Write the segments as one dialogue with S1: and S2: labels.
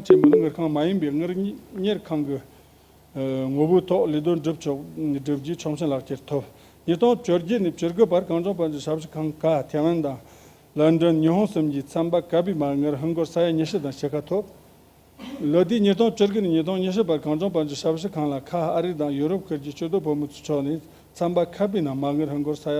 S1: ཁང་ཆེན་མོ་ནི་གཉེར་ཁང་མ་ཡིན་པའི་གཉེར་ཁང་གི་ངོ་བོའི་ཐོག་ལས་དོན་སྒྲུབ་ཕྱོགས་བསྒྲུབ་རྒྱུའི་ཆོག་མཆན་ལག་ཁྱེར་ཐོབ། ཉིས་སྟོང་བཅོ་བརྒྱད་ནས་བཅོ་དགུ་བར་གངས་ལྗོངས་བོད་ཀྱི་ཞབས་ཞུ་ཁང་ཀ་ཐེ་ཝན་དང། ལན་ཀྲོན་ཉི་ཧོང་གསུམ་གྱིས་ཚན་པ་ཀ་པི་མར་ངར་ཧིན་སྒོར་ས་ཡ་ཉི་ཤུ་དང་ཕྱེད་ཀ་ཐོབ། ལོ་དེའི་ཉིས་སྟོང་བཅོ་དགུ་ནས་ཉིས་སྟོང་ཉི་ཤུ་བར་གངས་ལྗོངས་བོད་ཀྱི་ཞབས་ཞུ་ཁང་ལ་ཁ་ཨ་རི་དང་ཡུ་རོབ་ཁུལ་གྱི་ཕྱི་སྡོད་བོད་མི་ཚོའི་ཕྱོགས་ནས་ཚན་པ་ཀ་པི་ནང་མར་ངར་ཧིན་སྒོར་ས་ཡ་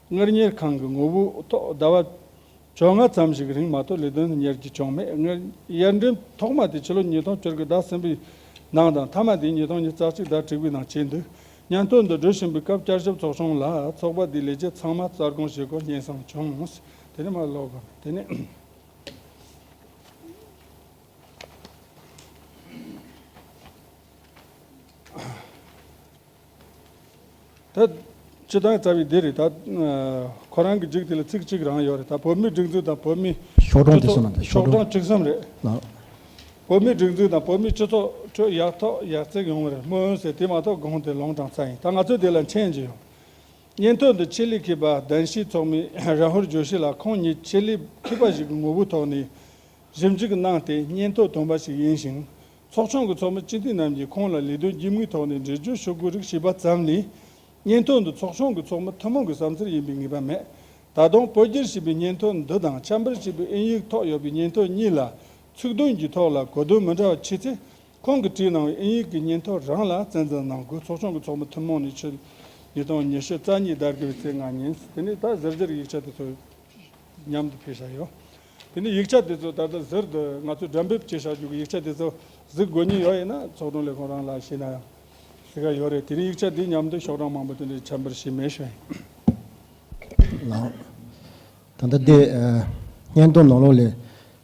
S1: སྔར་གཉེར་ཁང་གི་ངོ་བོའི་ཐོག་ཟླ་བ་བཅོ་ལྔ་ཙམ་ཞིག་གི་རིང་མ་གཏོགས་ལས་དོན་གཉེར་རྒྱུ་བྱུང་མེད། སྔར་གཡར་འགྲེམས་ཐོག་མ་དེ་ཕྱི་ལོ་ཉིས་སྟོང་བཅུར་གྱི་ཟླ་གསུམ་པའི་ནང་དང་མཐའ་མ་དེ་ཉིས་སྟོང་ཉིས་རྩ་གཅིག་ཟླ་དྲུག་པའི་ནང་བྱས་འདུག་སྙན་ཐོ་འདི་འབྲི་བཞིན་པའི་སྐབས་བསྐྱར་ཞིབ་ཚོགས་ཆུང་ལ་ཚོགས་པ་དེའི་ལས་བྱེད་ཚང་མ་རྩ་དགོངས་བཞེས་སྐོར་སྙན་གསང་བྱུང། དེ་ནས་མར་ཀློག་དགོས་མེད། དེ་ནས། ད། སྤྱི་དང་རྩ་བའི་སྡེ་རེད་ད། ཁོ་རང་གི་འགྲིག་དེ་ལ་ཚིག་གཅིག་རང་ཡོད་རེད་ད་བོད་མིའི་སྒྲིག་འཛུགས་དང་བོད་མིའི། ཤོག་གྲངས་དེ་གསུམ་རེད་
S2: ཤོག་གྲངས་དྲུག་གསུམ་རེད།
S1: བོད་མིའི་སྒྲིག་འཛུགས་དང་བོད་མིའི་སྤྱི་ཚོགས་ཁྲོད་ཡག་ཐོག་ཡག་བརྩེགས་ཡོང་བ་རེད་སྨོན་འོན་ཟེར་དེ་མ་གཏོགས་དགོངས་དེ་ལོང་གྲངས་རྩ་ཡིན་ད་ང་ཚོས་དེ་ལ་མཁྱེན་གྱི་ཡོད། སྙན་ཐོ་འདི་ཆེད་ལས་མཁས་པ་གདན་ཞུས་ཚོགས་མི་རཱ་ཧུལ་ཇོ་ཤི་ལགས་ཁོང་ཉིད་ཆེད་ལས་མཁས་པ་ཞིག་གི་ངོ་བོའི་ཐོག་ནས་ཞིབ་འཇུག་གནང་སྟེ་སྙན་ཐོ་བཏོན་པ་ཞིག་ཡིན་ཞིང་ཚོགས་ཆུང་གི་ཚོགས་མི་སྤྱི་འཐུས་རྣམས་ཀྱིས་ཁོང་ལ་ལས་དོན་གྱི་དམིགས་ཐོག་ནས་འགྲེལ་བརྗོད་ཞུ་དགོས་རིགས་ཞུས་པ་ཙམ་ལས། སྙན་ཐོ་འདི་ཚོགས་ཆུང་གི་ཚོགས་མི་ཐུན་མོང་གི་བསམ་འཆར་ཡིན་པའི་ངེས་པ་མེད། ད་དུང་བོད་སྒྱུར་བྱས་པའི་སྙན་ཐོ་འདི་དང་ཆབ་འབེལ་བྱས་པའི་ཨིན་ཡིག་ཐོག་ཡོད་པའི་སྙན་ཐོ་གཉིས་ལ་ཚིག་དོན་གྱི་ཐོག་ལ་གོ་དོན་མི་འདྲ་བ་མཆིས་ཚེ། ཁོང་གིས་བྲིས་གནང་བའི་ཨིན་ཡིག་གི་སྙན་ཐོ་རང་ལ་གཙན་འཛིན་གནང་དགོས་ཚོགས་ཆུང་གི་ཚོགས་མི་ཐུན་མོང་ནས་ཕྱི་ཉིན་དང་ཉི་ཤུ་རྩ་གཉིས་ཟླ་དགུ་པའི་ཚེས་ལྔ་ཉིན་དེ་ནས་ད་གཟར་གཞིར་ཡིག་ཆ་དེ་ཚོ་མཉམ་དུ་ཕེབས་བཞག་ཡོད། དེ་ནས་ཡིག་ཆ་དེ་ཚོ་ད་ལྟ་གཟེར་དུ་ང་ཚོས་སྒྲ་འབེབས་བྱེད་བཞག་རྒྱུ་གི་ཡིག་ཆ་དེ་ཚོ་གཟིགས་དགོས་ཉེན་ཡོད་ཡིན་ན་ཚོགས་དྲུང་ལས་ཁུངས་རང་ལ་ཤེས་ན་ཡང་གཟིགས་ཀ་ཡོད་རེད་དེ་རིང་ཡིག་ཆ་འདི་ཉམས་དུས་ཤོག་གྲངས་མང་པོ་དེ་འདྲའི་ཆ་འབེར་ཤེས་མེད་ཤོད་ཡིན།
S2: ལགས། ད་ལྟ་འདི་སྙན་ཐུང་ནང་ལོགས་ལས་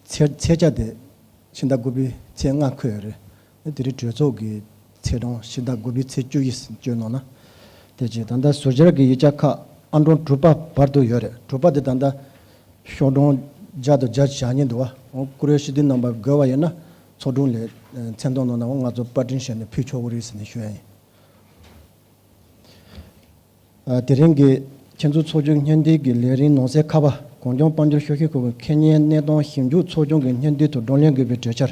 S2: ཚེས་ཚེས་བརྒྱ་དེ་ཕྱི་ཟླ་དགུ་པའི་ཚེས་ལྔ་འཁོད་ཡོད་རེད། དེ་རིང་གྲོས་ཚོགས་ཀྱི་ཚེས་གྲངས་ཕྱི་ཟླ་དགུ་པའི་ཚེས་བཅུ་ཡི་ཟིན་བཅོས་ནང་ན། དེ་རྗེས་ད་ལྟ་ཟུར་སྦྱར་གྱི་ཡིག་ཆ་ཁག་ཨ་འབྲོང་དྲུག་པ་བར་དུ་ཡོད་རེད་དྲུག་པ་དེ་ད་ལྟ་ཤོག་སྒྲོང་སྦྱར་དུ་སྦྱར་བཞག་ཉེན་འདུག་ཨ་འོང་བཀུར་འོས་ཞི་བདེའི་རྣམ་པར་རྒོལ་བ་ཡོད་ན་ཚོགས་དྲུང་ལས་མཚན་མཐོང་གནང་ན་འོང་ང་ཚོ་པར་སྐྲུན་བྱས་ནས་ཕུལ་ཆོག་གོ་རེད་ཟེར་ནས་ཞུ་ཡ་ཡིན། དེ་རིང་གི་ཁྱེད་ཚོའི་ཚོགས་ཆུང་སྙན་སྒྲིག་གི་ལས་རིམ་ནང་གསལ་ཁ་བ་གངས་ལྗོངས་དཔལ་འབྱོར་ཤོག་ཤེས་ཁུལ་གྱི་ཁེ་གཉེར་གནས་སྟངས་ཞིབ་འཇུག་ཚོགས་ཆུང་གི་སྙན་སྒྲིག་ཐོག་བགྲོ་གླེང་དགོས་པའི་གྲོས་འཆར།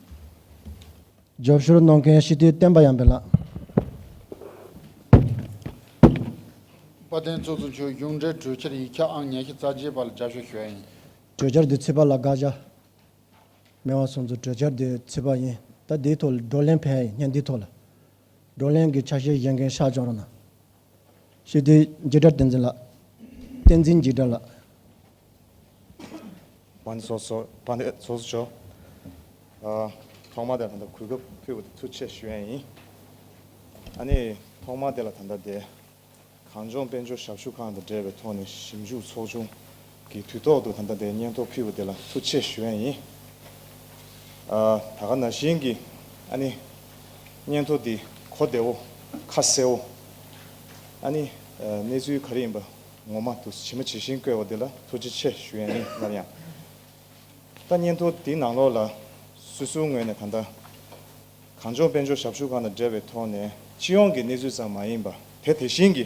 S2: སྦྱོར་བཞུར་གནང་མཁན་ཞི་བདེའི་བསྟན་པ་ཡངས་པའི་ལགས།
S3: བཀའ་བསྟན་གཙོ་གཙོ་མཆོག་གཞུང་འབྲེལ་གྲོས་འཆར་ཡིག་ཆ་ཨང་ཉེར་བཞི་རྩ་བརྒྱད་པ་ལ་སྦྱར་ཞོར་ཞུ་བ་ཡིན། གྲོས་འཆར་འདི་ཚིག་
S2: པར་ལ་དགག་བྱ་མེད་བ་སོང་ཚུལ་གྲོས་འཆར་འདི་ཚིག་པར་ཡིན་ད་འདིའི་ཐོག་ལ་བགྲོ་གླེང་ཕན་ཡིན་སྙམ་འདིའི་ཐོག་ལ་བགྲོ་གླེང་གི་ཆ་ཤས་བཞེས་མཁན་ཤག་བྱུང་རོགས་གནང། ཞི་བདེའི་རྗེས་འབྲང་བསྟན་འཛིན་ལགས། བསྟན་འཛིན་རྗེས་འབྲང་ལགས།
S4: བོན་སོགས་སོ། བ་འདི་ཚོགས་སུ་བྱོ། ཐོག་མ་དེ་ལ་ད་ལྟ་གུས་སྐབས་ཕུལ་བ་དེ་ཐུགས་ཆེ་ཞུ་ཡན་ཡིན། ཨ་ནི་ཐོག་མ་དེ་ལ་ད་ལྟ་དེ། གངས་ལྗོངས་དཔལ་འབྱོར་ཞབས་ཞུ་ཁང་དང་འབྲེལ་བའི་ཐོག་ནས་ཞིབ་འཇུག་ཚོགས་ཆུང་གི་དུས་ཐོག་ཏུ་ད་ལྟ་འདའི་སྙན་ཐོ་ཕུལ་བ་དེ་ལ་ཐུགས་ཆེ་ཞུ་ཡ་ཡིན། ད་ག་ན་བཞིན་གི་ཨ་ནི་སྙན་ཐོ་འདི་གོ་བདེ་བོ་ཁ་གསལ་བོ་ཨ་ནི་གནས་ཚུལ་ག་རེ་ཡིན་པ་ངོ་མ་དུ་ཇི་མ་ཇི་བཞིན་བཀོད་བ་དེ་ལ་ཐུགས་རྗེ་ཆེ་ཞུ་ཡ་ཡིན་སླར་ཡང་ད་སྙན་ཐོ་འདི་ནང་ལོགས་ལ་སུ་སུའི་ངོས་ནས་ད་ལྟ་གངས་ལྗོངས་དཔལ་འབྱོར་ཞབས་ཞུ་ཁང་དང་འབྲེལ་བའི་ཐོག་ནས་སྤྱི་ཡོངས་ཀྱི་གནས་ཚུལ་ཙམ་མ་ཡིན་པ་དེ་དེ་བཞིན་གི་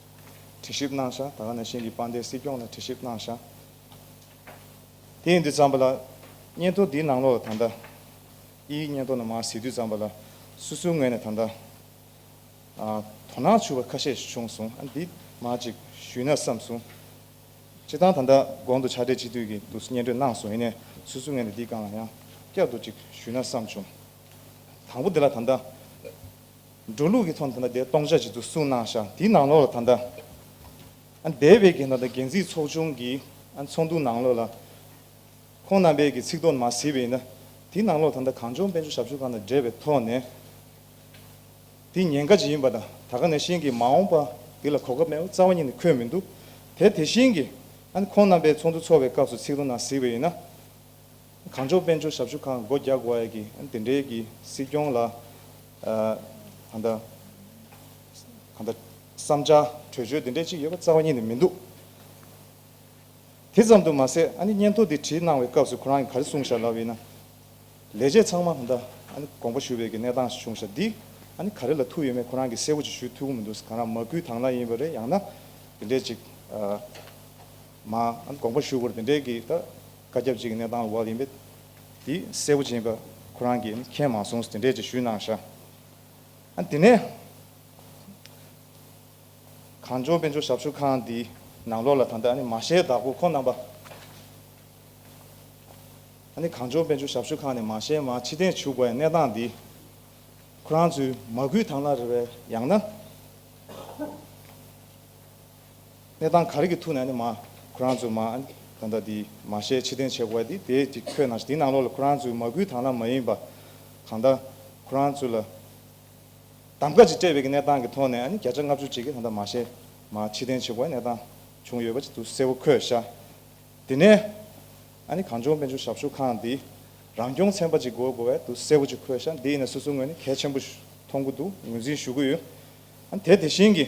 S4: དྲི་ཞིབ་གནང་ཤག་ད་ག་ནང་བཞིན་གྱི་དཔལ་ལྡན་སྲིད་སྐྱོང་ལ་དྲི་ཞིབ་གནང་ཤག་དེ་ཡིན་དུས་ཙམ་པ་ལ། སྙན་ཐོ་འདིའི་ནང་ལོགས་ད་ལྟ་ཨི་ཡིག་སྙན་ཐོ་ནང་མ་གཟིགས་དུས་ཙམ་པ་ལ། སུ་སུའི་ངོས་ནས་ད་ལྟ་དོ་སྣང་ཆུ་བ་ཁ་ཤས་བྱུང་སོང་ཨ་འདི་མ་ཅིག་ཞུས་ན་བསམ་སོང། སྤྱི་བཏང་ད་ལྟ་དགོང་དུ་ཕྱག་སྦྲེལ་སྤྱི་འཐུས་ཀྱི་འདུག་སྙན་སྒྲོན་གནང་སོང་ཡིན་ནས་སུ་སུའི་ངོས་ནས་འདི་གང་ལ་ཡང་བསྐྱར་དུ་ཅིག་ཞུས་ན་བསམ་བྱུང། དང་པོ་འདི་ལ་ད་ལྟ། འགྲོ་ལུགས་ཀྱི་ཚོགས་འདི་འདྲ་དེ་སྟོང་ཆ་གཅིག་ཏུ་གསུངས་གནང་ཤག་དེའི་ནང་ལོགས་ལ་ད་ལྟ་སྡེ་བའི་རྒན་དར་དང་རྒན་ཚིགས་ཚོགས་ཆུང་གི་ཚོགས་འདུ་ནང་ལོགས་ལ་ཁོང་རྣམ་པའི་གི་ཚིག་དོག་མ་ཟིན་པ་ཡིན་ན་དེའི་ནང་ལོགས་ད་ལྟ་གངས་ལྗོངས་དཔལ་འབྱོར་ཞབས་ཞུ་ཁང་དང་འབྲེལ་བའི་ཐོག་ནས་དེ་ཉེན་ཁ་ཇི་ཡིན་པ་དང་ད་ག་ནས་བཞིན་གི་མ་འོངས་པ་དེ་ལ་གོ་སྐབས་མེད་པ་རྩ་བ་ཉིད་ནས་འཁོད་མི་འདུག་དེ་དེ་བཞིན་གི་ཁོང་རྣམ་པའི་ཚོགས་འདུ་ཚོགས་པའི་སྐབས་སུ་ཚིག་དོག་ནང་ཟིན་པ་ཡིན་ན། གངས་ལྗོངས་དཔལ་འབྱོར་ཞབས་ཞུ་ཁང་སྒོ་རྒྱག་དགོས་ཀྱི་དེ་འབྲེལ་གྱི་སྲིད་སྐྱོང་ལ་གང་འདྲ་གང་འདྲ་བསམ་འཆར་གྲོས་ཆོད་དེ་འདྲས་ཅིག་ཡོད་པ་རྩ་བ་ཉིད་ནས་མི་འདུག་དེ་ཙམ་དུ་མ་ཟད་ཨ་ནི་སྙན་ཐོ་འདི་བྲིས་གནང་བའི་སྐབས་སུ་ཁོ་རང་གིས་ག་རེ་གསུངས་ཤར་ལབ་ཡིན་ན། ལས་བྱེད་ཚང་མ་གང་འདྲ་ཨ་ནི་དགོངས་པ་ཞུ་བའི་གི་གནས་སྟངས་ཤིག་བྱུང་ཤར་འདི་ཨ་ནི་ག་རེ་ལ་ཐུག་ཡོད་མེད་ཁོ་རང་གིས་གསལ་བོ་ཅིག་ཞུས་ཐུག་གི་མི་འདུག་གང་རང་མ་སྐུལ་དྭངས་ལ་ཡིན་པ་རེད་ཡང་ན་དེ་འདྲས་ཅིག་མ་ཨ་ནི་དགོངས་པ་ཞུ་དགོས་རེད་དེ་འདྲས་གི་ད་བཀའ་ཁྱབ་ཅིག་གནས་དང་བ་ཡིན་པས། དེ་གསལ་བོ་སྦྱིན་པ་ཁོ་རང་གིས་མཁྱེན་མ་སོང་ཟེར་འགྲེལ་གྱིས་ཞུས་གནང་ཤག། དེ་ནས། གངས་ལྗོངས་དཔལ་འབྱོར་ཞབས་ཞུ་ཁང་འདིའི་ནང་ལོགས་ལ་ད་ལྟ་མ་ཤའི་བདག་པོ་ཁོང་རྣམ་པ། གངས་ལྗོངས་དཔལ་འབྱོར་ཞབས་ཞུ་ཁང་ནས་མ་ཤའི་མར་ཕྱི་གཏན་བྱུགས་པའི་གནས་སྟངས་འདི། ཁོ་རང་ཚོའི་མ་སྐུལ་དང་ལ་རེ་བས་ཡང་ན། གནས་དང་གར་གྱི་ཐུགས་ནས་ནི་མ། ཁོ་རང་ཚོས་མ། ད་ལྟ་འདི། མ་ཞེས་ཕྱི་བསྟན་བྱེད་དགོས་པ་འདི་དེ་ཅིག་ཁྱོད་ནང་དེའི་ནང་ལོགས་ལ་ཁོ་རང་ཚོའི་མ་སྐུའི་དང་ལ་མ་ཡིན་པ། གང་ལྟར། ཁོ་རང་ཚོ་ལ། གདམ་ཀ་ཅིག་སྤྲད་པའི་གི་གནས་སྟངས་ཀྱི་ཐོག་ནས་ནི་བརྒྱ་ཆ་ལྔ་བཅུ་ཅིག་གི་ད་ལྟ་མ་ཞེས། མ། ཕྱི་བསྟན་བྱེད་དགོས་པའི་གནས་སྟངས། བྱུང་ཡོད་པ་ཅིག་འདུག་གསལ་བོ་ཁོས་ཤ། དེ་ནས། ཨ་ནི་གངས་ལྗོངས་དཔལ་འབྱོར་ཞབས་ཞུ་ཁང་འདི། རང་སྐྱོང་ཚན་པ་ཅིག་དགོས་དགོས་པའི་འདུག་གསལ་བོ་ཅིག་ཁོས་ཤ་འདི་ཡིན་ན་སོ་སོའི་ངོས་ནས་གལ་ཆེན་པོ། མཐོང་གི་འདུག་ངོས་འཛིན་ཞུ་གི་ཡོད། ཨ་ནི་དེ་དེ་བཞིན་གྱི།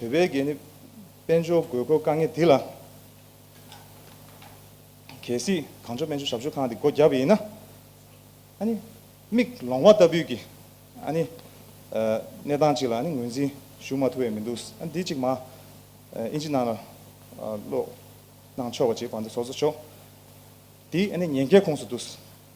S4: བོད་པའི་གད་སྙིགས་དཔལ་འབྱོར་དགོས་མཁོ་དཀའ་ངལ་འདི་ལ། གལ་སྲིད་གངས་ལྗོངས་སྨན་བཅོས་ཞབས་ཞུ་ཁང་འདི་སྒོ་བརྒྱབ་པ་ཡིན་ན། ཨ་ནི། མིག་ལོང་བ་ལྟ་བུས་ཀྱི། ཨ་ནི། གནས་སྟངས་ཅིག་ལ་ཨ་ནི་ངོས་འཛིན་ཞུ་མ་ཐུབ་བས་མི་འདུག་ཨ་ནི་འདི་ཅིག་མ། ཨིན་ཇི་ནང་ལ། ཀློག། གནང་ཆོག་པ་ཅིག་བར་འདི་ཚོགས་གསོག་ཆོག། འདི་ཨ་ནི་ཉེན་ཁའི་ཁོངས་སུ་འདུག།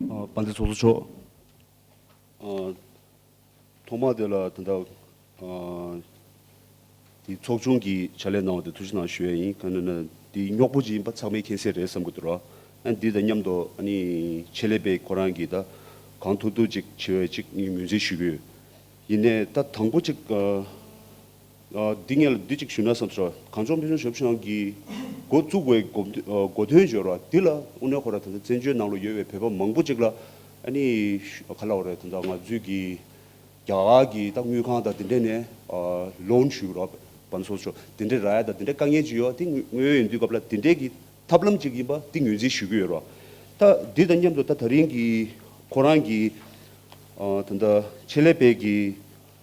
S5: དཔའ་འདི་ཚོགས་གཙོ་མཆོག། ཐོག་མར་དེ་ལ་དེ་འདྲ། དེ་ཚོགས་ཆུང་གི་བྱ་ལས་གནང་བ་དེ་ཐུགས་གཞི་ནང་ཞུ་ཡ་ཡིན་ག་ནོན་ན་དེ་རྙོག་པོ་ཅིག་ཡིན་པ་ཚང་མའི་མཁྱེན་གསལ་རེད་བསམ་གི་འདུག་ར་ཨ་འདི་དང་མཉམ་དུ་ཨ་ནི་ཆེད་ལས་པའི་ཁོ་རང་གི་ད་གང་ཐུག་ཐུག་ཅིག་བྱེད་འོས་ཅིག་ངས་ངོས་འཛིན་ཞུ་གི་ཡོད་ཡིན་ནས་ད་དང་པོ་ཅིག། འདི་ངས་ལ་འདི་གཅིག་ཞུས་ན་བསམ་སོང། གངས་ལྗོངས་དཔེ་མཛོད་ཞབས་ཞུ་ཁང་གིས་འགོ་བཙུགས་པའི་སྒོ་དོན་སྦྱོར་བ་འདི་ལ་ཨུ་ནེ་ཧོ་ར་དང་བཙན་བྱོལ་ནང་ལ་ཡོད་པའི་བོད་པ་མང་པོ་ཅིག་ལ་ག་ལ་བ་རེད་ད་ང་ཚོས་ཀྱི་རྒྱ་གར་གྱི་ད་དངུལ་ཁང་དང་དེ་འདྲས་ནས loan ཞུས་རོགས་བམ་སོགས་སོགས་དེ་འདྲས་ར་ཡ་དང་དེ་འདྲས་དཀའ་ངལ་ཅིག་ཡོད་དེ་དངོས་ཡོད་ཡིན་དུས་སྐབས་ལ་དེ་འདྲས་ཀྱི་ཐབས་ལམ་ཅིག་ཡིན་པ་འདི་ངོས་འཛིན་ཞུས་ཀྱི་ཡོད་རོགས་ད་འདི་དང་མཉམ་དུ་ད་ད་རིང་གི་ཁོ་རང་གི་ད་ཆེད་ལས་པས་ཀྱི།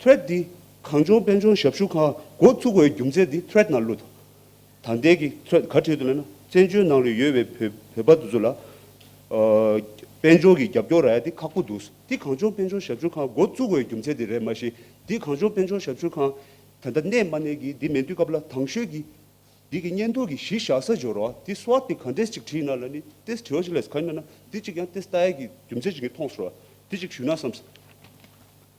S5: Thread འདི་གངས་ལྗོངས་དཔལ་འབྱོར་ཞབས་ཞུ་ཁང་འགོ་ཚུགས་པའི་རྒྱུ་མཚན་འདི Thread ནང་བླུགས་ཐོག་ད་ལྟའི་གི Thread ག་ཁྲིད་དུ་མེད་ན་བཙན་བྱོལ་ནང་ལ་ཡོད་པའི་བོད་བོད་པ་དེ་ཚོ་ལ་དཔལ་འབྱོར་གྱི་རྒྱབ་སྐྱོར་ར་ཡ་དེ་ཁག་པོ་འདུག་འདི་གངས་ལྗོངས་དཔལ་འབྱོར་ཞབས་ཞུ་ཁང་འགོ་བཙུགས་པའི་རྒྱུ་མཚན་དེ་རེད་མ་གཞི་འདི་གངས་ལྗོངས་དཔལ་འབྱོར་ཞབས་ཞུ་ཁང་ད་ལྟ་གནས་མ་གནས་གི་འདི་མེད་དུས་སྐབས་ལ་དྭངས་ཤོས་གི་འདི་གི་བརྙན་ཐུང་གི་གཞི་བཞག་ས་སྦྱོར་བ་དེ་སུ་བ་དེ་ག་འདྲས་ཅིག་བྲིས་ན་ལ་ནི Test བྲི་བ་ཞིག་ལས་ས་ག་ཡིན་མེད་ན་འདི་གཅིག་ཡང Test ལྟ་ཡས་གི་རྒྱུ་མཚན་ཞིག་གི་མཐོང་སོ་ར་དེ་གཅིག་ཞུས་ན་བསམ།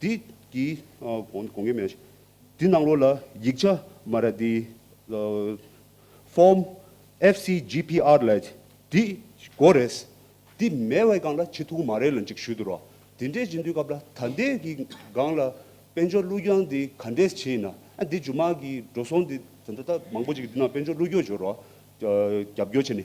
S5: འདི་གི་གོང་གི་མན་ཞིག་འདི་ནང་རོ་ལ་ཡིག་ཆ་མ་ར་འདི Form FCGPR ལ་འདི་གོ་རེད། འདི་མེད་བའི་སྒང་ལ་ཆེ་ཐུག་མ་རེད་ལ་འཇིག་ཞུ་དུ་རོ། འདི་འདྲས་འཇིག་འདུས་སྐབས་ལ་ད་ལྟའི་གི་སྒང་ལ་དཔལ་འབྱོར་གླུ་གྱང་འདི་ག་འདྲས་བྱས་ཡིན་ན་ཨ་འདི་ཇུ་མ་གི་འགྲོ་སོང་འདི་ད་ད་ད་མང་པོ་ཅིག་འདི་ནང་དཔལ་འབྱོར་གླུ་གྱོར་འབྱོར་རོ་རྒྱབ་སྐྱོར་བྱས་ནས་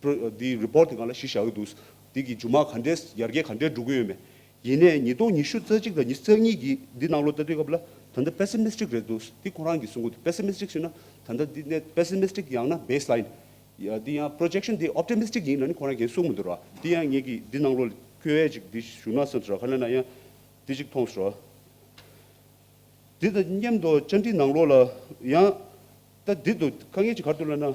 S5: འདིའི Report དེ་ག་ལ་ཞིག་བཞག་གི་འདུག་འདི་གི་འཇུ་མ་ག་འདྲས་ཡར་རྒྱས་ག་འདྲས་འགྲོ་གི་ཡོད་མེད། ཡིན་ནས་ཉིས་སྟོང་ཉི་ཤུ་རྩ་གཅིག་དང་ཉི་རྩ་གཉིས་ཀྱི་འདི་གནང་ལོ་ལྟ་དུས་སྐབས་ལ་ད་ལྟ Pessimistic རེད་འདུག་འདི་ཁོང་རང་གི་གསུང་གོ་འདི Pessimistic ཞེ་ན་ད་ལྟ་འདི་གནས Pessimistic ཡང་ན Baseline འདི་ཡང Projection འདི Optimistic ཡིན་ན་ནི་ཁོང་རང་གན་གསུང་མི་འདུག་ར་འདི་ཡང་ངེད་ཀྱི་འདི་གནང་ལོ་ཁྱོད་ཨེ་ཅིག་འདི་ཞུ་ན་སེམས་སོ་ར་ཁ་ལེ་ན་ཡང་འདི་ཅིག་མཐོང་སོ་ར། འདི་དང་མཉམ་དུ་བཅར་འདྲི་གནང་ལོ་ལ་ཡང། ལྟ་འདི་དུ་དཀའ་ངལ་གྱི་གར་དུ་བློས་ན།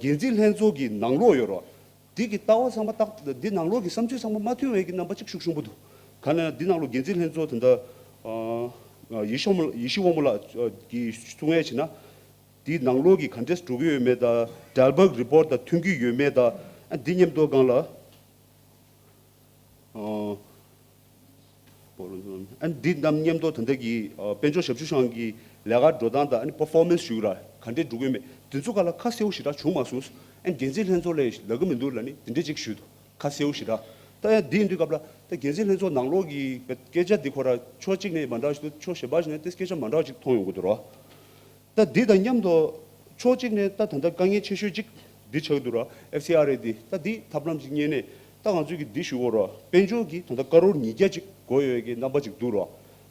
S5: འགན་འཛིན་ལྷན་ཚོགས་ཀྱི་ནང་ལོག་ཡོད་རོགས། འདི་གི་ལྟ་བ་ཚང་མ་རྟག་འདི་ནང་ལོག་གི་བསམ་ཚུལ་ཚང་མ་མ་མཐུན་བས་ཀྱི་རྣམ་པ་གཅིག་ཤུགས་ཤུགས་པོ་འདུག་ག་ནས་འདི་ནང་ལོག་འགན་འཛིན་ལྷན་ཚོགས་དེ་འདྲ་ཡེ་ཤོ་ཡེ་ཤེས་དབང་མོ་ལགས་ཀྱི་གསུང་ངས་བྱས་ན། འདི་ནང་ལོག་གི་ག་འདྲས་འགྲོ་གི་ཡོད་མེད་དང་འགྲལ་འབག Report དང་མཐུན་གྱི་ཡོད་མེད་དང་འདི་ཉེམས་རྟོག་སྒང་ལ། འདི་རྣམས་སྙན་ཐོ་དོན་ཐད་ཀྱི་དཔལ་འབྱོར་ཞབས་ཞུ་ཤང་གི་ལས་ཀར་འགྲོ་སྟངས་དང Performance ཞུ་ར་ག་འདྲས་འགྲོ་གི་མེད་དེ་ཚོ་ཁ་ལ་ཁ་གསལ་བོ་ཞེ་དྲག་བྱུང་མ་སོང། འགན་འཛིན་ལྷན་ཚོགས་ལས་ལ་གི་མི་འདུག་ལ་ནི་དེ་འདྲས་ཅིག་ཞུས་འདུག་ཁ་གསལ་བོ་ཞེ་དྲག་ལྟ་ཡ་འདི་ཡིན་དུས་སྐབས་ལ་ད་འགན་འཛིན་ལྷན་ཚོགས་ནང་ལོག་གི་སྐད་ཆ་འདི་ཁོ་ར་ཕྱོགས་གཅིག་ནས་མ་འདྲ་ཞིག་འདུག་ཕྱོགས་ཞེ་པ་ཞིག་ནས་ཏེ་སྐད་ཆ་མ་འདྲ་བ་ཅིག་མཐོང་ཡོང་གི་འདུག་རོ། རྟ་འདི་དང་མཉམ་དུ། ཕྱོགས་གཅིག་ནས་རྟ་ད་ལྟ་དཀའ་ངལ་ཆེ་ཤོས་གཅིག་འདི་ཆགས་འདུག་ར་ཨེ་ཕྱི་ཨ་རེད་འདི་རྟ་འདི་ཐབས་ལམ་ཞིག་རྙེད་ནས་རྟ་གང་ཚོད་ཀྱི་འདི་ཞུ་གོ་ར་དཔལ་འབྱོར་གྱི་ད་ལྟ་དཀར་རོར་ཉིས་བརྒྱ་གཅིག་གོ་ཡོད་ཀྱི་རྣམ་པ་ཅིག་འདུག་ར་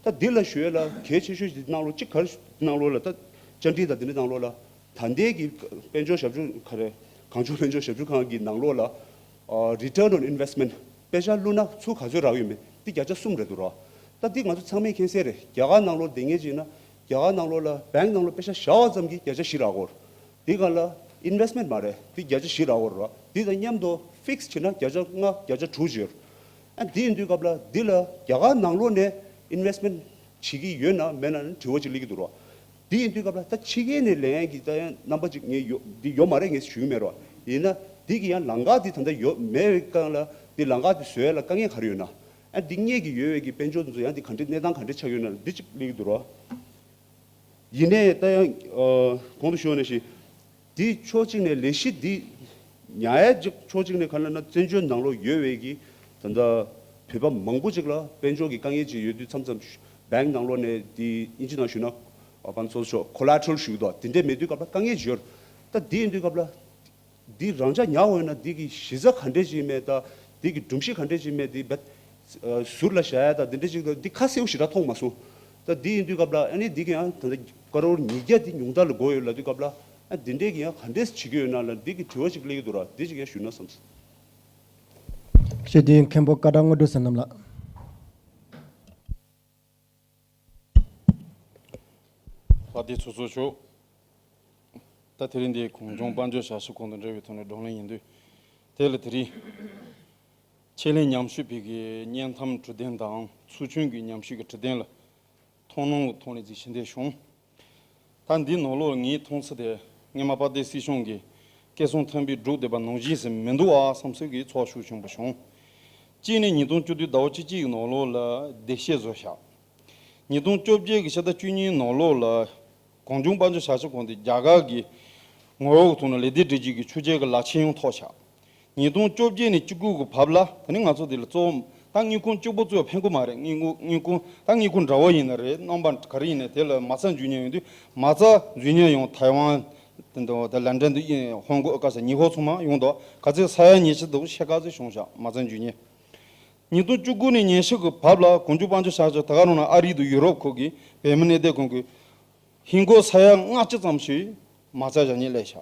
S5: རྟ་འདི་ལ་ཞོལ་ལ་གལ་ཆེ་ཤོས་ཞིག་གནང་རོགས་གཅིག་གར་གནང་རོགས་ལ་རྟ་བཅར་འདྲི་དང་འདི་འདྲི་གནང་རོགས་ལ་ད་ལྟའི་གི་དཔལ་འབྱོར་ཞབས་ཞུ་ག་རེ་གང་བྱུང་དཔལ་འབྱོར་ཞབས་ཞུ་ཁང་གི་ནང་རོགས་ལ Return on Investment དཔེ་ཆ་བླུ་ན་ཚུར་ག་ཚོད་རག་ཡོད་མེད་འདི་བརྒྱ་ཆ་གསུམ་རེད་འདུག་ར་རྟ་འདི་ང་ཚོ་ཚང་མས་མཁྱེན་གསལ་རེད་རྒྱ་གར་ནང་ལོར་བསྡད་ངེས་ཅིག་ན་རྒྱ་གར་ནང་ལོགས་ལ Bank ནང་ལོགས་དཔེ་ཆ་བཞག་བ་ཙམ་གྱིས་བརྒྱ་ཆ་བཞི་རག་གོ། དེ་ག་ལ Investment མ་རེད་དེ་བརྒྱ་ཆ་བཞི་རག་གོ་རོགས་དེ་དང་མཉམ་དུ Fix བྱེད་ན་བརྒྱ་ཆ་ལྔ་བརྒྱ་ཆ་དྲུག་འཇོལ། ཨ་འདི་ཡིན་དུས་སྐབས་ལ་འདི་ལ་རྒྱ་གར་ནང་ལོགས་ནས Investment བྱེད་ཀྱི་ཡོད་ན་མེད་ན་དྲི་བ་གཅིག་གླེང་གི་འདུག་རོགས། འདི་ཡིན་དུས་སྐབས་ལ་ད་ཕྱི་གལ་ནས་ལན་གྱི་ད་ཡང་རྣམ་པ་ཅིག་ངས་ཡོད་འདི་ཡོད་མ་རེད་ངས་ཞུ་གི་མེད་རོགས་ཡིན་ན་འདི་གི་ཡང་ལང་ཀ་འདི་ད་ལྟ་ཡོད་མེད་ཀང་ལ་འདི་ལང་ཀ་འདི་བཟོས་ལ་དཀའ་ངལ་ག་རེ་ཡོད་ན་ཨ་འདི་སྙད་ཀྱི་ཡོད་བས་ཀྱི་དཔལ་འབྱོར་འདི་ཚོ་ཡང་འདི་ག་འདྲི་གནས་སྟངས་ག་འདྲི་ཆགས་ཡོད་ན་འདི་ཅིག་ལིག་འདུག་རོ། ཡིན་ནས་ད་ཡང་གོང་དུ་ཤོར་ནས་ཤི། འདི་ཕྱོགས་གཅིག་ནས་ལས་གཞི་འདི་ཉའེ་འཇིག་ཕྱོགས་གཅིག་ནས་ག་ལ་ན་བཙན་བྱོལ་ནང་ལོག་ཡོད་བས་ཀྱི་ད་ལྟ་བོད་པ་མང་པོ་ཅིག་ལ་དཔལ་འབྱོར་གྱི་དཀའ་ངལ་ཅིག་ཡོད་དུས་མཚམས་མཚམས Bank ནང་ལོག་ནས་འདི་དབྱིན་ཇི་ནང་ཞུས་ན་གང་ཚོགས་ཆོག Collateral ཞུས་དོགས་དེ་འདྲས་མེད་དུས་སྐབས་ལ་དཀའ་ངལ་ཞིག་ཡོད། ད་འདི་ཡིན་དུས་སྐབས་ལ། འདིས་རང་ཅག་མྱང་འོས་ན་འདི་གི་གཞི་རྩ་ག་འདྲས་ཅིག་སྨྲས་དང། འདི་གི་སྒྲུབ་གཞི་ག་འདྲས་ཅིག་སྨྲས་འདི་འབད། ཟུར་ལ་བཞག་ཡ་དང་འདི་འདྲས་ཅིག་དང་འདི་ཁ་སེའུ་ཞེ་དྲག་མཐོང་མ་སོང། ད་འདི་ཡིན་དུས་སྐབས་ལ་ཨ་ནི་འདི་གི་ཡང་ད་ལྟ་ཀ་རོར་ཉིས་བརྒྱ་འདི་ཉུང་མཐར་ལ་འགོ་ཡོད་ལ་དུས་སྐབས་ལ་ཨ་འདི་འདྲས་ཀྱི་ཡང་ག་འདྲས་བྱེད་ཀྱི་ཡོད་ན་ལ་འདི་གི་དྲི་བ་ཅིག་སླེབས་ཀྱི་འདུག་ར་འདི་ཅིག་ཡང་ཞུས་ན་བསམས།
S2: ཞེས་འདི་ཡི་མཁན་པོ་བཀའ་གྲགས་དངོས་གྲུབ་ཟེར་རྣམས་ལགས།
S6: ལྷ་སྡེ་ཚོ་གཙོ་ཆོག་ད་དེ་རིང་འདི་གོང་སྐྱོང་དཔའ་འཇོག་བྱ་ཞིབ་ཁོང་དང་འབྲེལ་བའི་ཐོག་ནས་བགྲོ་གླེང་ཡིན་དུས་དེ་ལ་དེ་རིང་ཁྱེད་ལྷན་མཉམ་ཞུ་བེད་ཀྱི་བརྙན་ཐམ་དྲི་བདེན་དང་ཚུལ་མཐུན་གྱི་མཉམ་ཞུས་ཀྱི་དྲི་བདེན་ལ་མཐོང་སྣང་གི་ཐོག་ནས་གཟིགས་ཞི་འདས་བྱུང། ད་འདི་ནོར་ལུག་ངས་མཐོང་ཚུལ་དེ་སྔས་མ་དཔའ་སྡེ་སྲིད་གཞུང་གི་སྐད་གསུང་མཐོན་པོས་འབྲུག་སྡེ་པ་ནོར་གཞིས་སེམས་མི་འདུག་ཨ་བསམ་ཚུལ་གྱིས་ཚོགས་ཞུགས་བྱུང་པ་བྱུང། གཅིག་ནས་ཉིས་སྟོང་བཅུ་དུས་ཟླ་བ་བཅུ་གཅིག་ནོར་ལུག་ལ་བདེ་གཤེགས་བཟོ་བཞག་ཉིས་སྟོང་བཅོ་བརྒྱད་ཀྱི་ཕྱི་ཟླ་བཅུ་གཉིས་ནོར་ལུག་ལ་གང་བྱུང་དཔའ་འཇོག་བྱ་ཆེད་ཁོང་དེ་རྒྱ་གར་གྱི་ངོ་བོ་དུ་ནོར་ལེ་སྡེ་སྒྲིག་བྱེད་ཀྱི་ཆུ་རྐྱལ་གྱི་ལག་ཆས་ཡོངས་ཐོག་ཆགས་ཉིས་སྟོང་བཅོ་བརྒྱད་ནས་བཅུ་དགུ་གི་བབ་ལ་ད་ནི་ང་ཚོ་འདི་ལ་གཙོ་བོ་ད་སྔི་ཁུང་གཅིག་པོ་གཙོས་ཕན་གོ་མ་རེད་སྔི་སྔི་ཁུང་ད་སྔི་ཁུང་འདྲ་བོ་ཡིན་ན་རེད་རྣམ་པ་ག་རེ་ཡིན་ནས་དེ་ལ་མ་རྩ་འཇུ་ཉེན་ཡོང་དུས་མ་རྩ་འཇུ་ཉེན་ཡོང་ཐའི་ཝན་དང་ལན་ཀྲན་དང་ཧོང་ཀོ་ཀ་ས་ཉི་ཧོ་ཚོ་མ་ཡོང་དོ་ག་ཚོད་ས་ཡ་ཉེ་ཆེ་དང་ཤེ་ཀ་ཚོད་བྱུང་བཞག་མ་རྩ་འཇུ་ཉེན། ཉིས་སྟོང་བཅུ་དགུ་ནས་ཉེན་ཤེ་གི་བབ་ལ་གོང་འཇུ་དཔའ་འཇུ་བཞག་ཅིག་ད་ག་རང་ན་ཨ་རི་དང་ཡུ་རོབ་ཁུག་གི་བལ་མི་གནས་བསྡད་གོང་གི་ཧིན་སྒོར་ས་ཡ་ལྔ་བཅུ་ཙམ་ཞིག་མ་རྩ་བཞག་ཉེན་སླེ་བཞག།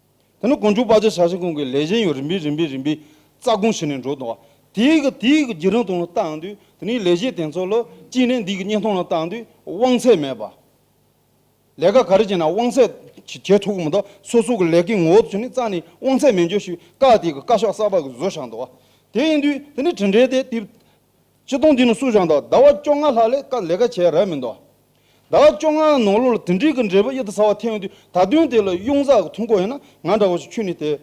S6: དེ་ནས་དགོངས་འཇུག་དཔའ་བྱེད་ཞལ་ཤེས་ཀུན་གྱི་ལས་གཞན་ཡང་རིམ་པས་རིམ་པས་རིམ་པས་རྩ་དགོངས་ཞི་ནས་འགྲོ། དེའི་དེའི་གི་རྒྱུད་རིང་ཐུང་ལ་བརྟག་འདུས་དེ་ནས་ལས་གཞན་དེ་ཚོ་ལ་གཅིག་ནས་འདི་གི་སྙན་ཐུང་ལ་བརྟག་འདུས་དབང་ཚད་མེད་པ། ལས་ཀ་ག་རེ་བྱས་ན་དབང་ཚད་བྱེད་ཐུབ་ཀྱི་མི་འདུག་སོ་སོ་གི་ལས་ཀའི་ངོ་བོ་དེ་ཚོ་ནི་རྩ་ནས་དབང་ཚད་མེད་འགྱུར་ཞིག་བཀག་དེའི་གི་བཀའ་ཤག་གསར་པ་གི་བཟོ་བཞག་འདུག་དེ་ཡིན་དུས་དེ་ནས་དྲིན་དྲན་ཏེ་དེ། སྤྱི་སྟོང་འདི་ནི་སུ་ཞང་དང་ཟླ་བ་བཅོ་ལྔ་ལྷག་ལས་ཀ་ལས་ཀ་བྱས་རབས་མི་འདུག་ཟླ་བ་བཅོ་ལྔའི་ནང་ལོ་ལ་དེ་འགྲིག་གི་འབྲས་བུ་ཨེ་ཐུབ་ཚ་བ་ཐེངས་དུས་ད་དུང་དེ་ལ་གཡུང་གཟར་གྱི་ཐུགས་འཁོར་ཡིན་ན་ང་འདྲ་བོ་ཞིག་ཁྱུ་ནས་དེ།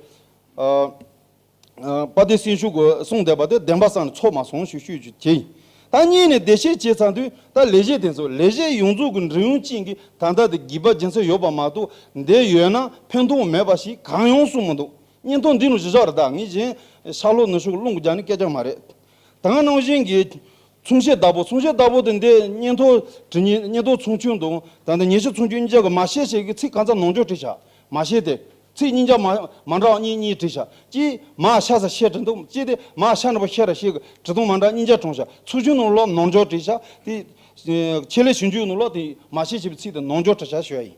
S6: པ་བདེ་སེམས་ཤུགས་དགོས་གསུངས་བསྡད་པ་དེ་བདེན་པ་བསམ་ནས་ཚོར་མ་སོང་ཞེས་ཤོད་རྒྱུ་དེ་ཡིན། ད་གཉིས་ནས་བདེ་གཤེགས་བྱས་ཚར་དུས་ད་ལས་གཞི་དེ་ཚོ་ལས་གཞི་ཡོངས་རྫོགས་ཀྱི་འབྲིང་ཡོངས་ཅན་གྱི་ད་ལྟ་དེ་བགྱིས་པ་སྦྱིན་ས་ཡོད་པ་མ་གཏོགས་འདི་ཡོད་ན་ཕན་ཐོགས་མེད་པ་ཞིག་གང་ཡོང་གསུངས་མི་འདུག་བརྙན་ཐུང་འདི་ནི་གཞི་བཞག་རེ་ད་ངས་གཞན་ཤར་ལྷོ་ནུབ་ཕྱོགས་གི་རླུང་གི་རྒྱ་ནི་སྐད་ཆ་མ་རེད། དང་ནང་བཞིན་གྱི། མཚུངས་བྱེད་བདག་པོ་མཚུངས་བྱེད་བདག་པོ་དེ་འདི་གཉེན་དོ། དྲི་གཉེན་གཉེན་དོ་མཚུངས་ཁྱུང་དང། དང་དང་གཉེན་བྱེད་མཚུངས་ཁྱུང་གཉིས་ཆ་གི་མ་ཤེས་བྱེད་ཀྱི་ཚིག་གང་ཚ་ནང་འཇོག་བྲིས་བྱ། མ་ཤེས་ཏེ། ཚིག་གཉིས་ཆ་མ། མ་འདྲ་བ་གཉིས་གཉིས་བྲིས་བྱ། ཀྱིས། མ་ཤ་ས་ཤེས་དྲི་དང་ཅི་སྟེ། མ་ཤ་ནི་པོ་ཤེས་ར་ཤེས་ཀྱི་དྲི་དང་མ་འདྲ་གཉིས་ཆ་དྲོངས་བྱ། མཚུངས་ཁྱུང་ནང་ལོགས་ནང་འཇོག་བྲིས་བྱ། ཏེ། ཁྱེད་ལས་བྱུང་ཁྱུང་ནང་ལོགས་དེ། མ་ཤེས་བྱེད་པའི་ཚིག་དེ་ནང་འཇོག་བྲིས་བྱ་ཞེས་པ་ཡིན།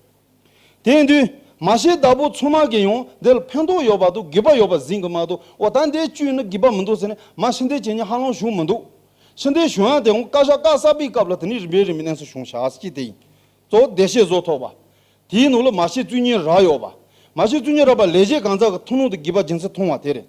S6: དེང་དུས། མ་ཤེས་བདག་པོ་ཚོང་དམག་གིས་ཡང་འདི་ལ་ཕན་ཐོགས་ཡོད་པ་འདུག་སྒིབ་པ་ཡོད་པ་ཟིན་གི་མ་འདུག་འོ་ད་འདིའི་བཅུད་ནི་སྒིབ་པ་མི་འདུག་ཟེར་ནས་མ་ཕྱི་འདེད་བྱེད་ཉིན་ཧ་ལོང་བྱུང་མི་འདུག། ཕྱི་འདེད་བྱུང་ཡང་དེའང་བཀའ་ཤག་བཀའ་གསར་པའི་སྐབས་ལ་དེ་ནས་རིམ་པས་རིམ་པས་གནས་སུ་བྱུང་བྱ་སྤྱི་དེ་ཡིན། གཙོ་བོ་བདེ་གཤེགས་བཟོ་ཐོག་པ། དེའི་ནང་ལ་མ་ཤེས་བཙུན་གཉེན་རག་ཡོད་པ། མ་ཤེས་བཙུན་གཉེན་རག་པ་ལས་གཞན་གང་ཟག་གི་ཐུན་མོང་དུ་སྒིབ་པ་སྦྱིན་སྲེག་མཐོང་བ་དེ་རེད།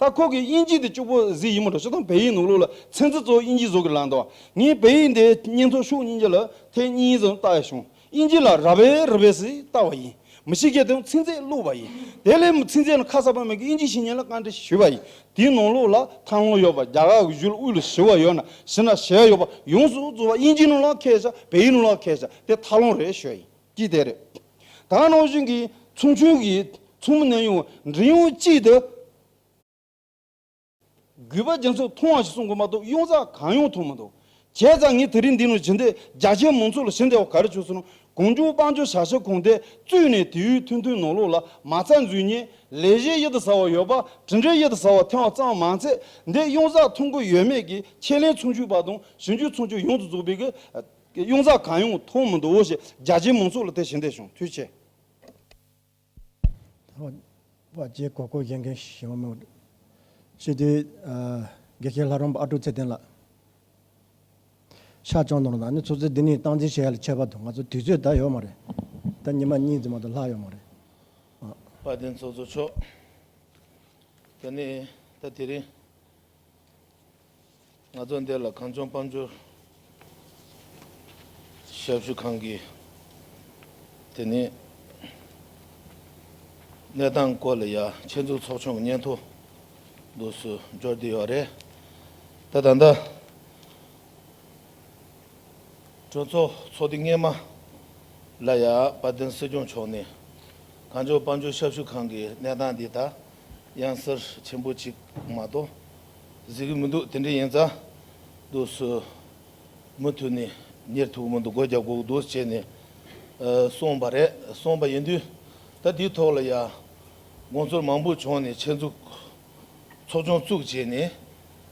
S6: ད་ཁོ་གིས་དབྱིན་ཇི་དེ་སྐྱུག་པོ་ཟིག་ཡིན་མོད་དྲོ་ཤུ་དང་བལ་ཡིག་ནོག་ལུག་ལ་ཚན་རྩི་གཙོ་བོ་དབྱིན་ཇིས་བཟོ་གི་ལགས་འདུག་ངས་བལ་ཡིག་འདི་གཉེན་ཐོག་ཤུགས་གཉིས་ཀྱི་ལ་ཐེ་གཉིས་ཡིན་ཙམ་བལྟ་ཡ་བྱུང་དབྱིན་ཇི་ལ་ར་བལ་རི་བལ་ཟིག་བཏགས་པ་ཡིན་མི་ཤེས་མཁན་དེ་ཚིག་མཛེས་བླུགས་པ་ཡིན་དེ་ལས་མི་ཚིག་མཛེས་ན་ཁ་གསབ་པ་མེད་གི་དབྱིན་ཇིའི་བཤེས་གཉེན་ལ་བཀའ་འདྲི་ཞུས་པ་ཡིན་དེའི་ནོག་ལུག་ལ་ཐང་ལོ་ཡོད་པ་རྒྱ་གར་གི་བཞུགས་དབུས་ལ་ཞི་བ་ཡོད་ན་ཞི་ན་ཞེ་ཡོད་པ་ཡོངས་སུ་རྫོགས་པ་དབྱིན་ཇིའི་ནོག་ལ་ཁས་བཞག་བལ་ཡིག་ནོག་ལ་ཁས་བཞག་དེ་ཐག་ལོང་རེད་ཤོད་ཡིན། ཀྱི་དེ་རེད། ད་ནང་བཞིན་གྱི་ཚོང་ཆུང་གི་ཚོང་མི་ནད་ཡོང་བའི་འབྲེལ་ཡོད་ཅིག་ཏུ་གུས་པ་རྒྱ་མཚོས་མཐོང་བ་ཞིག་གསུང་དགོས་མ་གཏོགས་གཡུང་རྩ་གང་ཡོང་མཐོང་མི་འདུག་བྱས་ཙང་ངས་དེ་རིང་འདི་ནང་བྱིན་དེ་རྒྱ་ཆེན་མང་ཚོགས་ལ་ཞི་འདེ་བ་ག་རེ་བྱོས་སོང་ན་གང་བྱུང་དཔང་བྱོས་བྱ་བྱེད་གང་དེ་བཙུད་ནས་དེ་ཡུལ་མཐུན་མཐུན་ནང་ལོག་ལ་མ་རྩ་འཛུལ་ཉིན་ལས་གཞི་ཡིད་དུ་ཟ་བ་ཡོད་པ་དྲིན་དྲན་ཡིད་དུ་ཟ་བ་ཐེང་བ་ཙམ་མང་ཚད་འདི་གཡུང་རྩ་མཐོང་གི་ཡོད་མེད་ཀྱི་ཁས་ལེན་ཚོང་ཆུང་པ་དང་ཞིང་ཆུང་ཚོང་ཆུང་ཡོངས་དུ་རྫོགས་པའི་གི་ཀྱི་གཡུང་ཟ་གང་ཡོང་མཐོང་མི་འདུག་ཞེས་རྒྱ་ཆེའི་མང་ཚོགས་ལ་དེ་བཞིན་བསྡད་བྱུང་དུས་ཆེ།
S2: བ་བཅས་གོ་སྐོར་བཞེངས་མཁན་ཞིག་ཡོང་མོད། ཕྱིས་དེའི་དགེ་བཤེས་ལྷ་རོང་པ་ཨ་ཀྲུག་ཚེ་བརྟན་ལགས། ཤར་ལྕང་ནོར་ལགས་ནི་ཚོགས་གཙོའི་འདི་ནས་སྟངས་འཛིན་བྱེད་ཡ་ལ་ཁྱད་པར་དུ་ང་ཚོ་དུས་ཚོད་ད་ཡོད་མ་རེད། ད་ཉི་མ་གཉིས་ཙམ་མ་གཏོགས་ལྷག་ཡོད་མ་རེད། བ་
S7: བརྟན་ཚོགས་གཙོ་མཆོག་ད་ནི་ད་དེ་རིང། ང་ཚོ་འདི་ལ་གངས་ལྗོངས་དཔལ་འབྱོར་ཞབས་ཞུ་ཁང་གིས་དེ་ནི་གནས་སྟངས་སྐོར་ལ་ཡ་ཆེན་འཛུགས་ཚོགས་ཆུང་གི་སྙན་ཐོ་འདུག་སུ་འབྱོར་བསྡུས་ཡོད་རེད་ད་ད་ལྟ་གྲོས་ཚོགས་ཚོགས་དུས་སྔས་མ་ལ་ཡ་བ་དིན་སྲིད་སྐྱོང་མཆོག་ནས་གངས་ལྗོངས་དཔལ་འབྱོར་ཞབས་ཞུ་ཁང་གི་གནས་སྟངས་འདི་ད་གཡང་གཟར་ཆེན་པོ་གཅིག་མ་གཏོགས་གཟིགས་ཀྱི་མི་འདུག་དེ་འདྲའི་ཡན་རྩ་འདུག་སུ་མུ་མཐུད་ནས་གཉེར་ཐུབ་ཀྱི་མི་འདུག་སྒོ་རྒྱག་གོག་འདུག་བྱས་ནས་སོང་བ་རེད་སོང་བ་ཡིན་དུས་ད་དེའི་ཐོག་ལ་ཡང་དགོངས་ཚུལ་མང་པོ་བྱུང་ནས་ཆེད་འཛུགས་ཚོགས་ཆུང་བཙུགས་བྱས་ནས་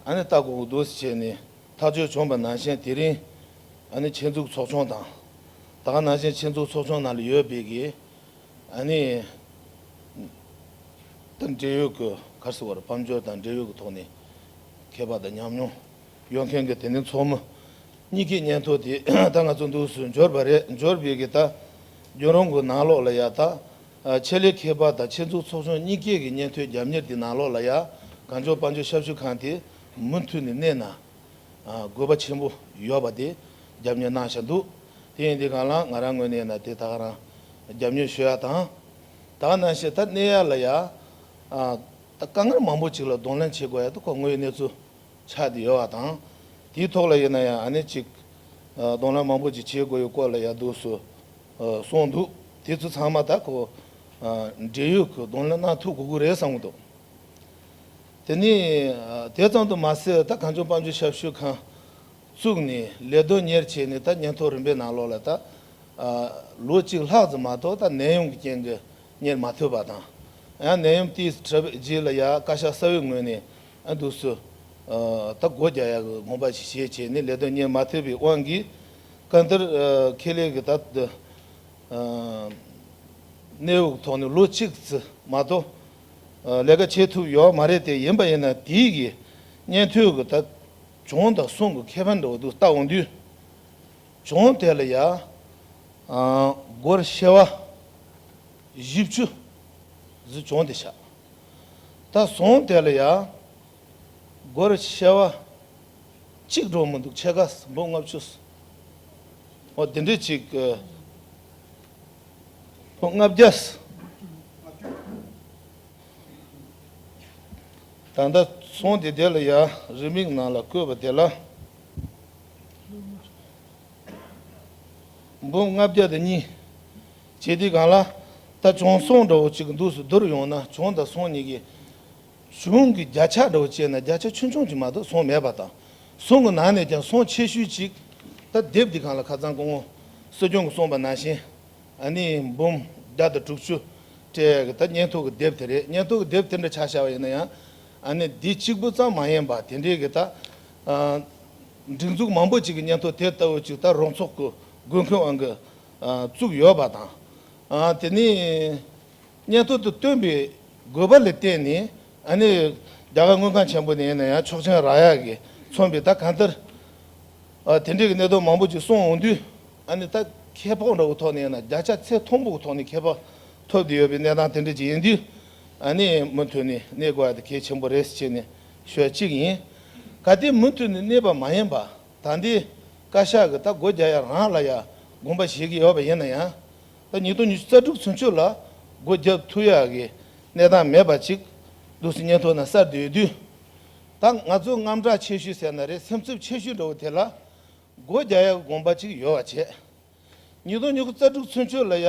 S7: ཨ་ནི་ལྟ་གོག་འདུག་བྱས་ནས་ཐག་གཅོད་བྱུང་བ་ནང་བཞིན་དེ་རིང་ཨ་ནི་ཆེད་འཛུགས་ཚོགས་ཆུང་དང་ད་ག་ནང་བཞིན་ཆེད་འཛུགས་ཚོགས་ཆུང་ནང་ལ་ཡོད་པའི་གི་ཨ་ནི། དང་འབྲེལ་ཡོད་ཀྱི་གར་སོགས་བར་ཕམ་སྦྱོར་དང་འབྲེལ་ཡོད་ཀྱི་ཐོག་ནས་མཁས་པ་དང་ཉམས་མྱོང་ཡོད་མཁན་གྱི་དེ་འདྲའི་ཚོགས་མི་གཉིས་ཀྱི་སྙན་ཐོ་དེ་ད་ང་ཚོ་འདུག་སུ་འབྱོར་པ་རེད་འབྱོར་བས་ཀྱི་ད་གྱོན་རོང་གི་ནང་ལོགས་ལ་ཡ་ད་ཆེད་ལས་མཁས་པ་དང་ཆེད་འཛུགས་ཚོགས་ཆུང་གཉིས་ཀས་ཀྱི་སྙན་ཐོའི་རྒྱབ་གཉེར་དེ་ནང་ལོགས་ལ་ཡ་གངས་ལྗོངས་དཔའ་འབྱོར་ཞབས་ཞུ་ཁང་དེ་མུ་མཐུད་ནས་གནས་ན་དགོས་པ་ཆེན་པོ་ཡོད་པ་དེ་རྒྱབ་ཉོས་གནང་བཞག་འདུག་དེ་ཡིན་དུས་གང་ལགས་ང་རང་ངོས་ནས་ན་དེ་དག་རང་རྒྱབ་ཉོས་ཞུ་ཡག་དང། དག་གནང་ཞེས་ད་གནས་ཡག་ལ་ཡ། ད་དཀའ་ངལ་མང་པོ་ཅིག་ལ་གདོང་ལེན་བྱེད་དགོས་ཡག་འདུག་ཁོ་ངོས་ཡི་གནས་ཚུལ་ཆགས་དེ་ཡོད་བ་དང། དེའི་ཐོག་ལ་ཡིན་ན་ཡང་ཨ་ནེ་ཅིག་གདོང་ལེན་མང་པོ་ཅིག་བྱེད་དགོས་ཡོད་སྐོར་ལ་ཡག་འདུག་སུ་གསུངས་འདུག་དེ་ཚོ་ཚང་མ་ད་ཁོ་འབྲེལ་ཡོད་ཁུ་གདོང་ལེན་གནང་ཐུབ་དགོས་ཀུ་རེ་བསམ་གྱི་འདུག། དེ་ནི་དེ་ཙམ་དུ་མ་ཟད་ད་གངས་ལྗོངས་དཔའ་མཆོད་ཞབས་ཞུ་ཁང་བཙུགས་ནས་ལས་དོན་གཉེར་བྱས་ནས་ད་ཉིན་ཐོ་རིམ་པའི་ནང་ལོགས་ལ་ད་ལོ་གཅིག་ལྷག་ཙམ་མ་གཏོགས་ད་ནད་ཡམས་ཀྱི་རྐྱེན་གྱིས་གཉེར་མ་ཐུབ་པ་དང། ཡང་ནད་ཡམས་དེའི་གྲབས་རྗེས་ལ་ཡང་བཀའ་ཤག་གསར་བའི་ངོས་ནས་འདུག་སུ་ད་སྒོ་རྒྱག་ཡག་གི་དགོངས་པ་ཞིག་བཞེས་བྱས་ནས་ལས་དོན་གཉེར་མ་ཐུབ་པའི་དབང་གིས་བཀའ་འདིར་ཁེ་ལས་ཀྱི་ད་གནས་དབུགས་ཐོག་ནས་ལོ་གཅིག་ཙི་མ་གཏོགས། ལས་ཀ་བྱེད་ཐུབ་ཡོག་མ་རེད་དེ་ཡིན་པ་ཡིན་ན་དེའི་གིས་གཉེན་ཐོས་གི་ད་གྱོང་དང་སོང་གི་ཁེ་ཕན་འདྲ་བོ་འདུག་ལྟ་འོང་དུས་གྱོང་དེ་ལ་ཡག་སྒོར་ཤེ་བ་བཞི་བཅུ་བཟི་གྱོང་དེ་ཆག་ད་སོང་དེ་ལ་ཡག་སྒོར་ཤེ་བ་གཅིག་འགྲོ་མི་འདུག་ཕྱེད་ཀ་སུམ་བུ་ལྔ་བཅུ་སོང་དེ་འདྲི་གཅིག་ལོ་ལྔ་བརྒྱ། ད་ལྟ་ཚོང་འདི་དེ་ལ་ཡ་རི་མིག་ནང་ལ་བརྐོས་པ་དེ་ལ། འབུམ་ལྔ་བརྒྱ་དང་གཉིས། བྱེད་དེ་གང་ལ། ད་བྱོང་སོང་འདྲ་བོ་གཅིག་འདུག་སུ་བསྡུར་ཡོང་ན་བྱོང་དང་སོང་གཉིས་ཀྱི། གཞུང་གི་བརྒྱ་ཆ་འདྲ་བོ་བཅས་ན་བརྒྱ་ཆ་ཆུང་ཆུང་ཅིག་མ་གཏོགས་ཟོང་མེད་པ་དང། ཟོང་གི་ནང་ནས་ཀྱང་ཟོང་ཆེ་ཤོས་གཅིག། ད་དེབ་འདི་གང་ལ་ཁ་ཚང་སྐུ་ངོ། སྲིད་སྐྱོང་གི་གསུངས་པ་ནང་བཞིན། ཨ་ནི། འབུམ། བརྒྱ་དང་དྲུག་ཅུ། སྤྲེལ་གི་ད་བརྙན་ཐུང་གི་དེབ་དེ་རེད་བརྙན་ཐུང་གི་དེབ་དེ་འདྲ་ཆགས་ཤར་བ་ཡིན་ན་ཡང། ཨ་ནི། འདི་གཅིག་པུ་ཙམ་མ་ཡིན་པ་དེ་འདྲའི་གི་ད། སྒྲིག་འཛུགས་མང་པོ་ཅིག་གི་བརྙན་ཐུང་དེ་ལྟ་བུ་ཅིག་ད་རོང་ཚོགས་སྐུ་དགོན་མཁན་དབང་གིས། བཙུགས་ཡོད་པ་དང། དེ་ནི། སྙན་ཐོ་དུ་བཏོན་པའི་དགོས་པ་ལ་བརྟེན་ནས་ཨ་ནེ། རྒྱ་གར་དངུལ་ཁང་ཆེན་པོ་ནས་ཡིན་ན་ཡང་ཆོག་མཆན་རག་ཡ་གི་མཚོན་པའི་ད་གང་ལྟར། དེ་འབྲེལ་གྱི་གནད་དོན་མང་པོ་ཅིག་སོང་འོང་དུས་ཨ་ནེ་ད་ཁྱད་འཕགས་འདྲ་བོ་ཐོག་ནས་ཡིན་ན་བརྒྱ་ཆ་ཚད་མཐོན་པོ་གི་ཐོག་ནས་ཁྱད་འཕགས་ཐོབ་བསྡད་ཡོད་པའི་གནས་སྟངས་དེ་འདྲ་ཅིག་ཡིན་དུས་ཨ་ནེ་མུ་མཐུད་ནས་གནས་དགོས་པ་དེ་གལ་ཆེན་པོ་རེད་ཅེས་ནས་ཤོད་ཅིག་ཡིན། ག་དེ་མུ་མཐུད་ནས་གནས་པ་མ་ཡིན་པ་ད་ལྟའི་བཀའ་ཤག་གི་ད་སྒོ་རྒྱ་ཡ་རང་ལ་ཡ་དགོངས་པ་བཞེས་ཀྱི་ཡོད་པ་ཡིན་ན་ཡང། ཟླ་ཉིས་སྟོང་ཉི་ཤུ་རྩ་དྲུག་ཚུན་ཆོད་ལ་སྒོ་བརྒྱབ་ཐུག་ཡག་གི་གནས་སྟངས་མེད་པ་ཅིག་འདུག་སི་ཉན་ཐོག་ན་གསར་དུ་ཡོད་དུས་ད་ང་ཚོ་རྔམ་སྐྲག་ཆེ་ཤོས་ཟེར་ན་རེད་སེམས་འཚུབ་ཆེ་ཤོས་འདྲ་བོ་དེ་ལ་སྒོ་བརྒྱག་ཡག་གི་དགོངས་པ་ཅིག་ཡོད་བ་བྱས། ཉིས་སྟོང་ཉི་ཤུ་རྩ་དྲུག་ཚུན་ཆོད་ལ་ཡག་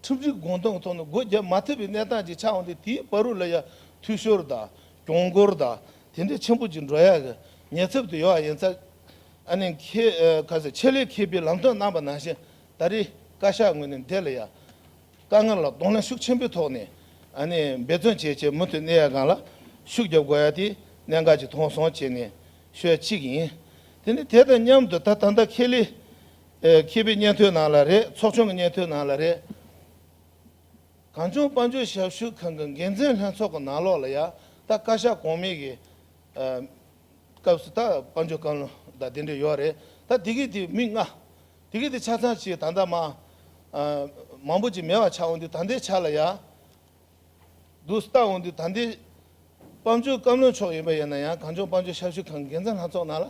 S7: ཁྲིམས་སྒྲིག་དགོངས་དོན་གྱི་ཐོག་ནས་སྒོ་བརྒྱབ་མ་ཐུབ་པའི་གནས་སྟངས་ཅིག་ཆགས་འོང་སྟེ་དེའི་བར་རུ་ལ་ཡག་འཐུས་ཤོར་དང་གྱོང་སྐོར་དང་དེ་འདྲའི་ཆེན་པོ་ཅིག་འགྲོ་ཡག་གི་ཉེ་ཚབ་དུ་ཡོད་བ་ཡིན་ཚ། ཨ་ནེ་ཁྱེད་ག་ཚོད་ཆེད་ལས་ཁེ་པའི་ལམ་སྟོན་གནང་པ་ནང་བཞིན་ད་རེས་བཀའ་ཤག་ངོས་ནས་འདི་ལ་ཡང་དཀའ་ངལ་ལ་གདོང་ལེན་ཤུགས་ཆེན་པོའི་ཐོག་ནས་འབད་བརྩོན་བྱེད་ཆེད་མུ་མཐུད་གནད་ཡོད་སྒང་ལ་ཤུགས་བརྒྱབ་དགོས་ཡ་དེ་གནད་འགག་ཅིག་མཐོང་སོང་བྱས་ནས་ཤོད་གཅིག་ཡིན། དེ་ནི་དེ་དང་མཉམ་དུ་ད་ད་ལྟ་ཁེ་ལས་ཁེ་པའི་སྙན་ཐོའི་ནང་ལ་རེད་ཚོགས་ཆུང་གི་སྙན་ཐོའི་ནང་ལ་རེད། གངས་ལྗོངས་དཔལ་འབྱོར་ཞབས་ཞུ་ཁང་གི་འགན་འཛིན་ལྷན་ཚོགས་ཀྱི་ནང་ལོགས་ལ་ཡང་ད་བཀའ་ཤག་གོང་མའི་གི་སྐབས་སུ་ད་དཔལ་འབྱོར་བཀའ་བློན་ད་དེ་འདྲས་ཡོད་རེད་ད་དེ་གི་དེ་མི་མངའ། དེ་གི་དེ་ཆ་ཚང་ཅིག་ད་ལྟ་མ། མང་པོ་ཅིག་མེ་བ་ཆགས་འོང་དུས་ད་འདི་ཆགས་ལ་ཡ། དུ་ལྟ་འོང་དུས་ད་འདི། སྤམ་ཆུ་སྐམ་རློན་ཕྱོགས་ཡིན་པ་ཡིན་ན་ཡང་གངས་ལྗོངས་སྤམ་ཆུ་ཤ་ཤུ་ཁང་གི་འགན་འཛིན་ལྷ་ཚོགས་ནང་ལ།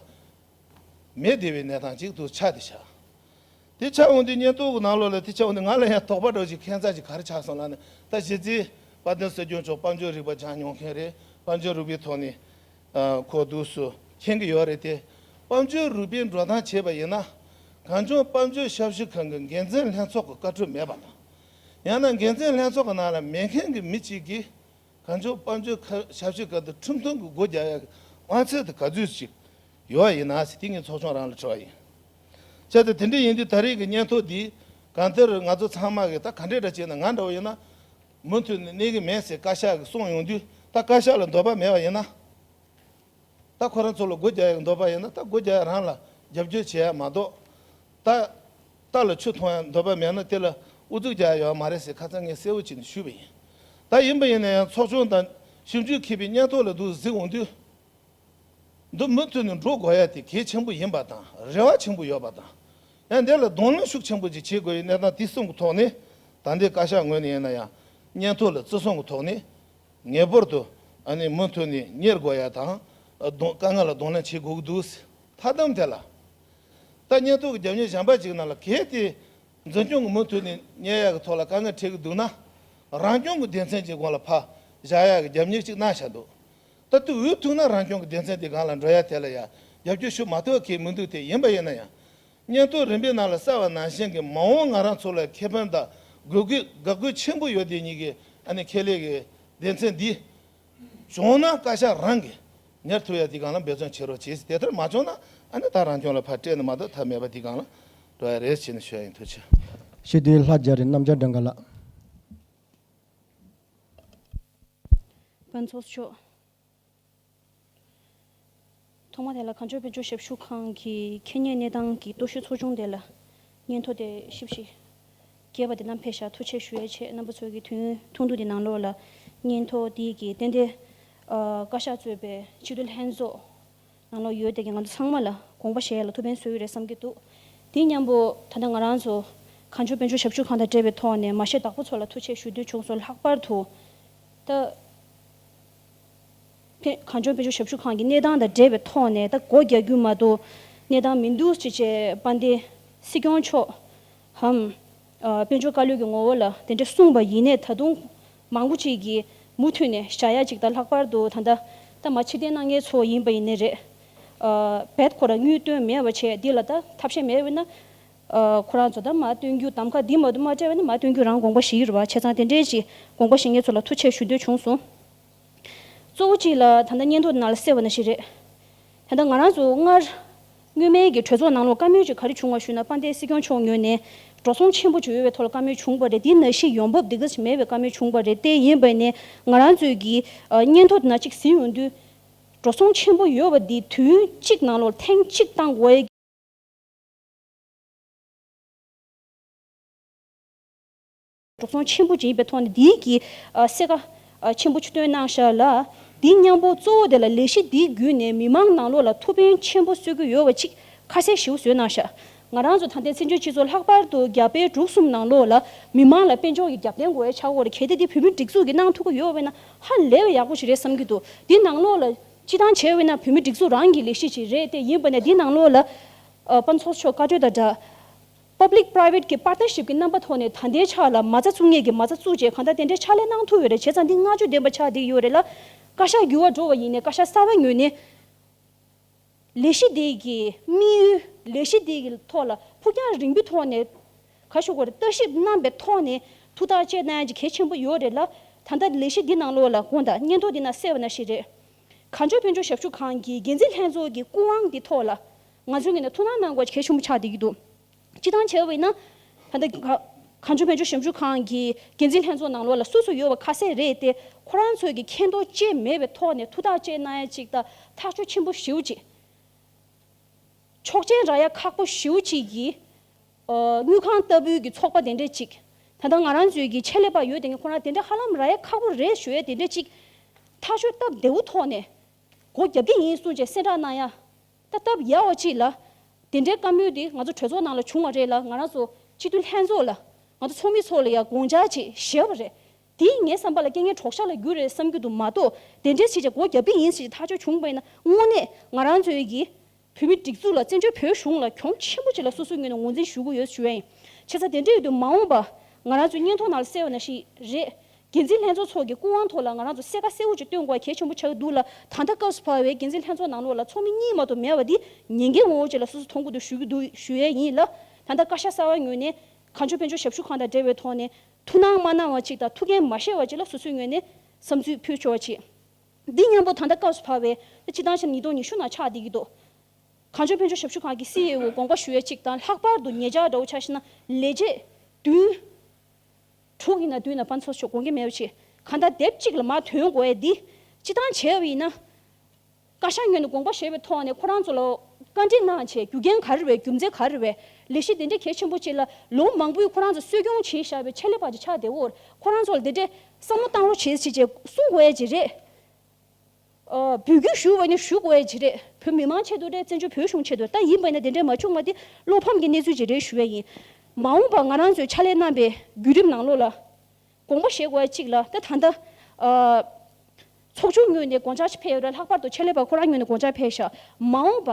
S7: མེ་བདེ་བའི་ནད་ཐང་ཅིག་དུ་ཆགས་དེ་ཆགས། དེ་ཆགས་འོང་དུས་ཉེན་རྟོག་གི་ནང་ལོག་ལ་དེ་ཆགས་འོང་དུས་ང་ལ་ཡང་དོགས་པ་འགྲོ་ཅིག་ཁེན་རྩ་ཅིག་གར་ཆགས་སོང་ལ་ནི་ད་གཞི་རྩིས། དཔའ་ལྡན་སྲོལ་རྒྱུན་མཆོག་སྤམ་ཆུ་རིག་པ་སྦྱང་མྱོང་མཁན་རེད་སྤམ་ཆུ་རུས་པའི་ཐོག་ནས། གོ་ཐུགས་སུ་མཁྱེན་གྱི་ཡོད་རེད་དེ། དཔའ་མཆོད་རུས་པའི་འགྲོ་སྟངས་བྱས་པ་ཡིན་ན། གངས་ལྗོངས་དཔའ་མཆོད་ཞབས་ཞུ་ཁང་གི་འགན་འཛིན་ལྷན་ཚོགས་ཀྱི་བཀའ་འཁྲོལ་མེད་པ་དང། ཡང་ན་འགན་འཛིན་ལྷན་ཚོགས་ཀྱི་ནང་ལ་མེད་མཁན་གྱི་མི་གཅིག་གིས། གངས་ལྗོངས་དཔའ་མཆོད་ཞབས་ཞུ་ཁང་དུ་ཁྲིམས་མཐུན་གྱི་སྒོ་རྒྱག་ཡག་དབང་ཚད་དུ་ག་ཚོད་ཅིག་ཡོད་པ་ཡིན་ན། དེ་ངས་ཚོགས་ཆུང་རང་ལ་འཁྲི་བ་ཡིན། བྱས་ཏེ་དེ་འདྲ་ཡིན་དུས་ད་རེས་ཀྱི་སྙན་ཐོ་འདིས་གང་ལྟར་ང་ཚོ་ཚང་མ་གིས་ད་ག་འདྲས་འདྲ་བྱས་ན་ང་འདྲ་བོ་ཡིན་ན། མུ་མཐུད་ནས་གནས་ཀྱི་མེད་ཟེར་བཀའ་ཤག་གིས་གསུངས་ཡོང་དུས་ད་བཀའ་ཤག་ལ་འདོད་པ་མེད་པ་ཡིན་ན། ད་ཁོ་རང་ཚོ་ལ་སྒོ་རྒྱག་ཡག་འདོད་པ་ཡིན་ན་ད་སྒོ་རྒྱག་ཡག་རང་ལ་རྒྱབ་སྐྱོར་བྱེད་ཡག་མ་གཏོགས། ད་ལྟ་ལ་ཆུ་འཐུང་ཡག་འདོད་པ་མེད་ན་དེ་ལ་ཨུ་ཚུགས་རྒྱག་ཡག་མ་རེད་ཟེར་ཁ་ཚ་ངས་གསལ་བོ་བྱས་ནས་ཞུས་པ་ཡིན། ད་ཡིན་པ་ཡིན་ན་ཡང་ཚོགས་ཆུང་དང་ཞིབ་འཇུག་མཁས་པའི་སྙན་ཐོ་ལ་འདུག་གཟིགས་འོང་དུས། འདི་མུ་མཐུད་ནས་འགྲོ་དགོས་ཡ་དེ་གལ་ཆེན་པོ་ཡིན་པ་དང་རེ་བ་ཆེན་པོ་ཡོད་པ་དང། ཡང་འདི་ལ་གདོང་ལེན་ཤུགས་ཆེན་པོ་ཅིག་བྱེད་དགོས་ཡི་གནས་སྟངས་དེ་གསུམ་གི་ཐོག་ནས་ད་ལྟའི་བཀའ་ཤག་ངོས་ནས་ཡིན་ན་ཡང་སྙན་ཐོ་ལ་བརྩི་སྲུང་གི་ཐོག་ནས་ངེས་པར་དུ་མུ་མཐུད་ནས་གཉེར་དགོས་ཡ་དང། དཀའ་ངལ་ལ་གདོང་ལེན་བྱེད་དགོས་ཀྱི་འདུག་ཟེར་མཐའ་དམ་དེ་ལ་ད་སྙན་ཐོ་གི་རྒྱབ་གཉེར་བྱམས་པ་ཅིག་གནང་ལ་གལ་ཏེ་འཛིན་སྐྱོང་གི་མུ་མཐུད་ནས་གཉེར་ཡ་གི་ཐོག་ལ་དཀའ་ངལ་འཕྲད་ཀྱི་འདུག་ན་རང་སྐྱོང་གི་སྡེ་ཚན་གྱི་སྒོ་ལ་ཕ་བཞག་ཡ་གི་རྒྱབ་གཉེར་ཅིག་གནང་བྱ་འདུག་ད་དུས་འུ་ཐུག་ན་རང་སྐྱོང་གི་སྡེ་ཚན་དེ་གང་ལ་འགྲོ་ཡ་དེ་ལ་ཡ་རྒྱབ་སྐྱོར་ཞུ་མ་ཐོག་གི་མི་འདུག་དེ་ཡིན་པ་ཡིན་ན་ཡང། སྙན་ཐོ་རིམ་པའི་ནང་ལ་གསལ་བ་ནང་བཞིན་གྱི་མ་འོངས་ང་རང་ཚོ་ལ་ཁེ་ཕན་དང་དགོས་མཁོའི་དགག་དགོས་ཆེན་པོ་ཡོད་དེ་གཉིས་ཀའི་ཨ་ནི་ཁེ་ལས་ཀྱི་སྡེ་ཚན་འདི། བྱུང་ན་བཀའ་ཤག་རང་གིས་ཉར་ཐུབ་ཡ་དེ་གང་ལ་འབད་བརྩོན་བྱེད་རོགས་བྱེད་དེ་ལྟར་མ་བྱུང་ན་ཨ་ནི་ད་རང་སྐྱོང་ལ་ཕར་སྤྲད་ནས་མ་གཏོགས་ཐབས་མེད་པ་དེ་གང་ལ་འགྲོ་ཡ་རེད་བྱས་ནས་ཞུ་ཡ་ཡིན་ཐུགས་ཆེ། ཞི་བདེའི་ལྷ་
S2: རྒྱ་རི་གནམ་ལྕགས་སྦྲང་དགའ་ལགས།
S8: ཕུན་ཚོགས་མཆོག། ཐོག་མ་དེ་ལ་གངས་ལྗོངས་དཔལ་འབྱོར་ཞབས་ཞུ་ཁང་གི་ཁེ་གཉེར་གནས་སྟངས་ཀྱི་རྟོག་ཞིབ་ཚོགས་ཆུང་དེ་ལ་སྙན་ཐོ་དེ་ཞིབ་ཞིག་སྐྱེལ་བ་དེ་རྣམས་ཕེབས་ཤག་ཐུགས་ཆེ་ཞུ་ཡའི་ཆེད་རྣམ་པ་ཚོ་གི་དུས་ཡུན་ཐུང་ཐུང་དེ་ནང་ལོགས་ལ་སྙན་ཐོ་དེའི་གི་རྟེན་དེ་བཀའ་ཤག་གཙོས་པའི་ཕྱི་དྲོ་ལྷན་ཚོགས་ནང་ལོག་ཡོད་དེ་ང་ཚོ་ཚང་མ་ལ་དགོངས་པ་བཞེས་ཡ་ལ་ཐུགས་ཕན་གསོས་ཡོད་རེད་བསམ་གྱི་འདུག་དེ་མཉམ་པོ་ད་ལྟ་ང་རང་ཚོ་གང་བྱུང་དཔོན་ཆུང་ཞབས་ཞུ་ཁང་དང་སྤྲད་པའི་ཐོག་ནས་མ་ཤེས་བདག་པོ་ཚོ་ལ་ཐུགས་ཆེ་ཞུ་འདོད་བྱུང་སོང་ལྷག་པར་དུ་ད་ཕན་གང་བྱུང་དཔོན་ཆུང་ཞབས་ཞུ་ཁང་གི་གནས་སྟངས་དང་འབྲེལ་བའི་ཐོག་ནས་ད་སྒོ་རྒྱག་རྒྱུ་མ་གཏོགས་གནས་སྟངས་མི་འདུག་ཅེས་བཅས་པ་འདི་སྲིད་སྐྱོང་མཆོག་གམ་དཔལ་འབྱོར་བཀའ་བློན་གྱི་ངོ་བོ་ལ་དེ་འདྲ་གསུངས་པ་ཡིན་ནས་ད་དུང་མང་པོ་ཅིག་གིས་མུ་མཐུད་ནས་བྱ་ཡ་ཅིག་དང་ལྷག་པར་དུ་ད་ལྟ་ད་མ་ཕྱི་བསྟན་ན་ངའི་ཚོ་ཡིན་པ་ཡིན་ནི་རེད། བད་ཁོ་རང་སྙུན་སྟོན་མེད་བ་བྱས་འདི་ལ་ད་ཐབས་ཤེས་མེད་བས་ན། ཁོ་རང་ཚོ་ད་མ་སྟོན་རྒྱུ་དམ་ཁ་འདི་མ་དུ་མ་བཀྲལ་བས་ན་མ་སྟོན་རྒྱུ་རང་དགོངས་པ་ཞིག་ཡོད་རེད་བ་བྱས་ཙང་དེ་འདྲའི་ཅིག་དགོངས་པ་ཞིག་ངའི་ཚོ་ལ་ཐུགས་ཆེ་ཞུ་འདོད་བྱུང་སོང། གཙོ་བོ་གཅིག་ལ་ད་ལྟ་སྙན་ཐོ་ནར་སེལ་བ་ན་ཞིག་རེད། ད་ལྟ་ང་རང་ཚོ་སྔར། སྔོན་མའི་གི་གྲོས་ཚོགས་ནང་ལོ་བཀའ་མོལ་གཅིག་ག་རེ་བྱུང་བ་ཞུས་ན་པ་འདས་སྲིད་སྐྱོང་མཆོག་ཉོས་ནས་འགྲོ་སོང་ཆེན་པོ་བྱོས་བའི་ཐོག་ལ་བཀའ་མོལ་བྱུང་བ་རེད་དེ་ན་ཞིག་ཡོང་འབབ་འདི་ག་ཞིག་མེད་བའི་བཀའ་མོལ་བྱུང་བ་རེད་དེ་ཡིན་བས་ནས་ང་རང་ཚོས་གི་སྙན་ཐོ་ན་གཅིག་ཟིན་ཡོང་དུས། འགྲོ་སོང་ཆེན་པོ་ཡོད་བ་འདི་དུས་ཡུན་གཅིག་ནང་ལོར་ཐེངས་གཅིག་བཏང་དགོས། གྲོགས་ཚོང་ཆེན་པོ་ཅིག་ཡིན་པའི་ཐོག་ནས་འདིའི་གྱི་གསལ་ཁ་ཆེན་པོ་སྟོན་གནང་ཤག་ལ། འདི་སྙམ་པོ་གཙོ་བོ་དེ་ལ་ལས་གཞི་འདིའི་བརྒྱུད་ནས་མི་མང་ནང་ལོག་ལ་ཐུགས་ཕན་ཆེན་པོ་གསོས་ཀྱི་ཡོད་བ་ཅིག་ཁ་གསལ་ཞིའུ་བཟོས་གནང་ཤག་ང་རང་ཚོ་ད་ལྟའི་བཙན་བྱོལ་སྤྱི་ཚོགས་ལྷག་པར་དུ་རྒྱ་དཔེ་དྲུག་གསུམ་ནང་ལོག་ལ་མི་མང་ལ་དཔེ་འཇོག་གི་རྒྱབ་རྟེན་དགོས་ཡ་ཆགས་སྐོར་ལ་གལ་ཏེ་འདི་བོད་མིར་སྒྲིག་འཛུགས་ཀྱི་གནང་ཐུག་གི་ཡོད་བས་ན་ཧ་ལས་བའི་ཡག་པོ་ཞིག་རེད་བསམ་གྱི་འདུག་འདི་ནང་ལོག་ལ་སྤྱི་བཏང་བྱས་བས་ན་བོད་མི་སྒྲིག་འཛུགས་རང་གི་ལས་གཞི་ཞིག་རེད་ཏེ་ཡིན་བས་ན་འདི་ནང་ལོག་ལ་དཔའ་མཆོག་མཆོག་བཀའ་གྲོས་དང་སྦྲགས། Public Private ཀྱི Partnership ཀྱི་རྣམ་པ་ཐོག་ནས་ད་ལྟའི་ཆ་ལ་མ་རྩ་བཙུགས་ངེས་ཀྱི་མ་རྩ་བཙུགས་རྗེས་གང་ལྟར་དེ་འདྲའི་ཕྱག་ལས་གནང་ཐུབ་ཡོད་རེད་བྱས་ཙང་འདི་བསྔགས་བརྗོད་ལྡན་པ་ཆགས་བསྡད་ཡོད་རེད་ལ། བཀའ་ཤག་འགྱུར་བ་འགྲོ་བ་ཡིན་ནས་བཀའ་ཤག་གསར་བ་ཉོས་ནས། ལས་གཞི་དེ་གི་དམིགས་ཡུལ་ལས་གཞི་དེ་གི་ཐོག་ལ་ཕུགས་རྒྱང་རིང་པོའི་ཐོག་ནས་ག་ཞུ་དགོས་རེད་ལྟ་ཞིབ་རྣམ་པའི་ཐོག་ནས་ཐུགས་ཐག་བཅད་གཏན་གྱི་གལ་ཆེན་པོ་ཡོད་རེད་ལ། ད་ལྟ་ལས་གཞི་འདི་ནང་ལོགས་ལ་དགོངས་དག་སྙན་ཐོ་འདི་ན་གསལ་བ་ན་ཞིག་རེད། གངས་ལྗོངས་དཔལ་འབྱོར་ཞབས་ཞུ་ཁང་གི་འགན་འཛིན་ལྷན་ཚོགས་ཀྱི་སྐུ་དབང་གི་ཐོག་ལ། ང་ཚོའི་ངོས་ནས་ཐུགས་སྣང་གནང་དགོས་གལ་ཆེན་པོ་ཆགས་བསྡད་ཀྱི་འདུག་སྤྱི་བཏང་བྱས་བས་ན། ད་ལྟ། གངས་ལྗོངས་དཔལ་འབྱོར་ཞབས་ཞུ་ཁང་གི་འགན་འཛིན་ལྷན་ཚོགས་ནང་ལོགས་ལ་སུ་སུ་ཡོད་པ་ཁ་གསལ་རེད་དེ། ཁོ་རང་ཚོས་ཀྱི་མཁྱེན་རྟོགས་བཅས་མེད་པའི་ཐོག་ནས་ཐུགས་ཐག་བཅད་ན་ཡ་ཅིག་དང་ཐག་གཅོད་ཆེན་པོ་ཞིའུ་ཅིག། ཆོག་མཆན་རག་ཡ་ཁག་པོ་ཞིའུ་ཅིག་གིས། དངུལ་ཁང་ལྟ་བུའི་གྱི་ཚོགས་པ་དེ་འདྲས་ཅིག། ད་ལྟ་ང་རང་ཚོའི་གྱི་ཆེད་ལས་པ་ཡོད་དེ་ངས་ཁོ་རང་དེ་འདྲས་ཧ་ལམ་རག་ཡ་ཁག་པོ་རེད་ཞུ་ཡ་དེ་འདྲས་ཅིག། ཐག་གཅོད་སྟབས་བདེ་བོ་ཐོག་ནས། སྒོ་རྒྱབ་ཀྱི་ཡིན་གསུངས་བཅས་གསལ་བསྒྲགས་གནང་ཡ། ད་སྟབས་ཡག་བ་ཅིག་ལ། དེ་འདྲའི་བཀའ་མོལ་དེ་ང་ཚོ་གྲོས་ཚོགས་ནང་ལ་བྱུང་བ་རེད་ལ་ང་རང་ཚོ་སྤྱི་འཐུས་ལྷན་ཚོགས་ལ། ང་ཚོ་ཚོགས་མི་ཚོ་ལ་ཡང་དགོངས་འཇགས་ཅིག་བཞེས་བ་རེད། དེ་ངའི་བསམ་པ་ལ་རྐྱེན་ངན་གྲོགས་ཤ་ལ་རྒྱུ་རེད་བསམ་རྒྱུ་དུ་མ་གཏོགས་དེ་འདྲའི་བྱས་རྗེས་སྒོ་རྒྱབ་པི་ཡིན་ཞེས་ཐག་གཅོད་བྱུང་བ་ཡིན་ན་དངོས་གནས་ང་རང་ཚོའི་གི་བོད་མི་སྒྲིག་འཛུགས་ལ་བཙན་བྱོལ་བོད་གཞུང་ལ་གྱོང་ཆེན་པོ་ཅིག་ལ་སོ་སོའི་ངོས་ནས་ངོ་འཛིན་ཞུ་གི་ཡོད་ཞུ་ཡ་ཡིན། ཆེ་ས་དེ་འདྲའི་ཡོད་དུ་མ་འོངས་པ་ང་རང་ཚོའི་སྙན་ཐོ་ནང་ལ་གསལ་བ་ན་ཞིག་རེད། འགན་འཛིན་ལྷན་ཚོགས་ཚོགས་ཀྱི་སྐུ་དབང་ཐོག་ལ་ང་རང་ཚོ་གསལ་ཁ་གསལ་བོ་ཅིག་སྟོན་དགོས་པ་གལ་ཆེན་པོ་ཆགས་འདུག་ལ། ད་ལྟ་སྐབས་སུ་བབས་པའི་འགན་འཛིན་ལྷན་ཚོགས་ནང་ལོགས་ལ་ཚོགས་མི་གཉིས་མ་གཏོགས་མེད་པ་འདི་ཉེས་འགེལ་ངོ་བོ་ཅིག་ལ་སོ་སོ་མཐོང་གི་འདུག་ཞུ་གི་འདུག་ཞུ་ཡས་ཡིན་ལ། ད་ལྟ་བཀའ་ཤག་གསར་བ་ངོས་ནས། གངས་ལྗོངས་དཔལ་འབྱོར་ཞབས་ཞུ་ཁང་དང་འབྲེལ་བའི་ཐོག་ནས། ཐུགས་སྣང་མ་གནང་བ་ཅིག་དང་ཐུགས་འགན་མ་བཞེས་བ་ཅིག་ལ་སོ་སོའི་ངོས་ནས། བསམ་ཚུལ་ཕུལ་ཆོག་ཅིག། འདི་སྙམ་པོ་ད་ལྟ་སྐབས་སུ་བབས་པའི། སྤྱི་བཏང་ཆ་ནས་ཉིས་སྟོང་ཉི་ཤུ་ནང་ཆགས་བསྡད་ཀྱི་འདུག་གངས་ལྗོངས་དཔལ་འབྱོར་ཞབས་ཞུ་ཁང་གི་སི་ཨེ་ཨོ་དགོངས་པ་ཞུ་ཡས་ཅིག་དང་ལྷག་པར་དུ་ངེད་ཅག་འདྲ་བོ་ཆགས་ཤི་ན་ལས་བྱེད་བདུན། དྲུག་ཡིན་ན་དུས་ན་པ་འཚོ་ཆོག་དགོངས་ཀྱི་མེད་ཆེ། གང་ལྟར་དེབ་གཅིག་ལ་མ་དོན་གོ་བས་འདི་སྤྱི་སྟངས་བྱས་པ་ཡིན་ན། བཀའ་ཤག་ངོས་ནས་དགོངས་པ་བཞེས་པའི་ཐོག་ནས་ཁོ་རང་ཚོ་ལ་བཀའ་འདྲི་གནང་ཆེད་རྒྱུ་རྐྱེན་ག་རེ་བས་རྒྱུ་མཚན་ག་རེ་བས་ལས་གཞི་དེ་འདྲའི་གལ་ཆེན་པོ་ཅིག་ལ་ལོ་མང་པོའི་ཁོ་རང་ཚོ་གསོས་སྐྱོང་བྱས་བཞག་པའི་ཆེད་ལས་པ་ཅིག་ཆགས་བདེ་བོར་ཁོ་རང་ཚོ་ལ་དེ་འདྲའི་བསམ་བློ་བཏང་རོགས་བྱེད་ཅེས་གསུངས་དགོས་ཡ་ཅི་རེད། བོད་བརྒྱུད་ཞུ་བ་ནི་ཞུགས་འོས་ཅི་རེད་བོད་མི་མང་ཆེད་དུ་རེད་བཙན་བྱོལ་བོད་གཞུང་ཆེད་དུ་རེད་ད་ཡིན་པ་ཡིན་ན་དེ་འདྲའི་མ་བྱུང་བ་དེ་བློ་ཕམ་གྱི་གནས་ཚུལ་ཅིག་རེད་ཞུ་བས་ཡིན། མ་འོངས་པར་ང་རང་ཚོས་ཕྱག་ལས་གནང་པའི་བརྒྱུད་རིམ་ནང་ལོགས་ལ་དགོངས་པ་བཞེས་དགོས་པ་གཅིག་ལ་ད་ད་ལྟ་ཚོགས་ཆུང་ངོས་ནས་དགོངས་འཆར་ཕེབས་ཡོད་རེད་ལྷག་པར་དུ་ཕྱག་ལས་པ་ཁོ་རང་ངོས་ནས་དགོངས་འཆར་ཕེབས་ཤག་མ་འོངས་པ་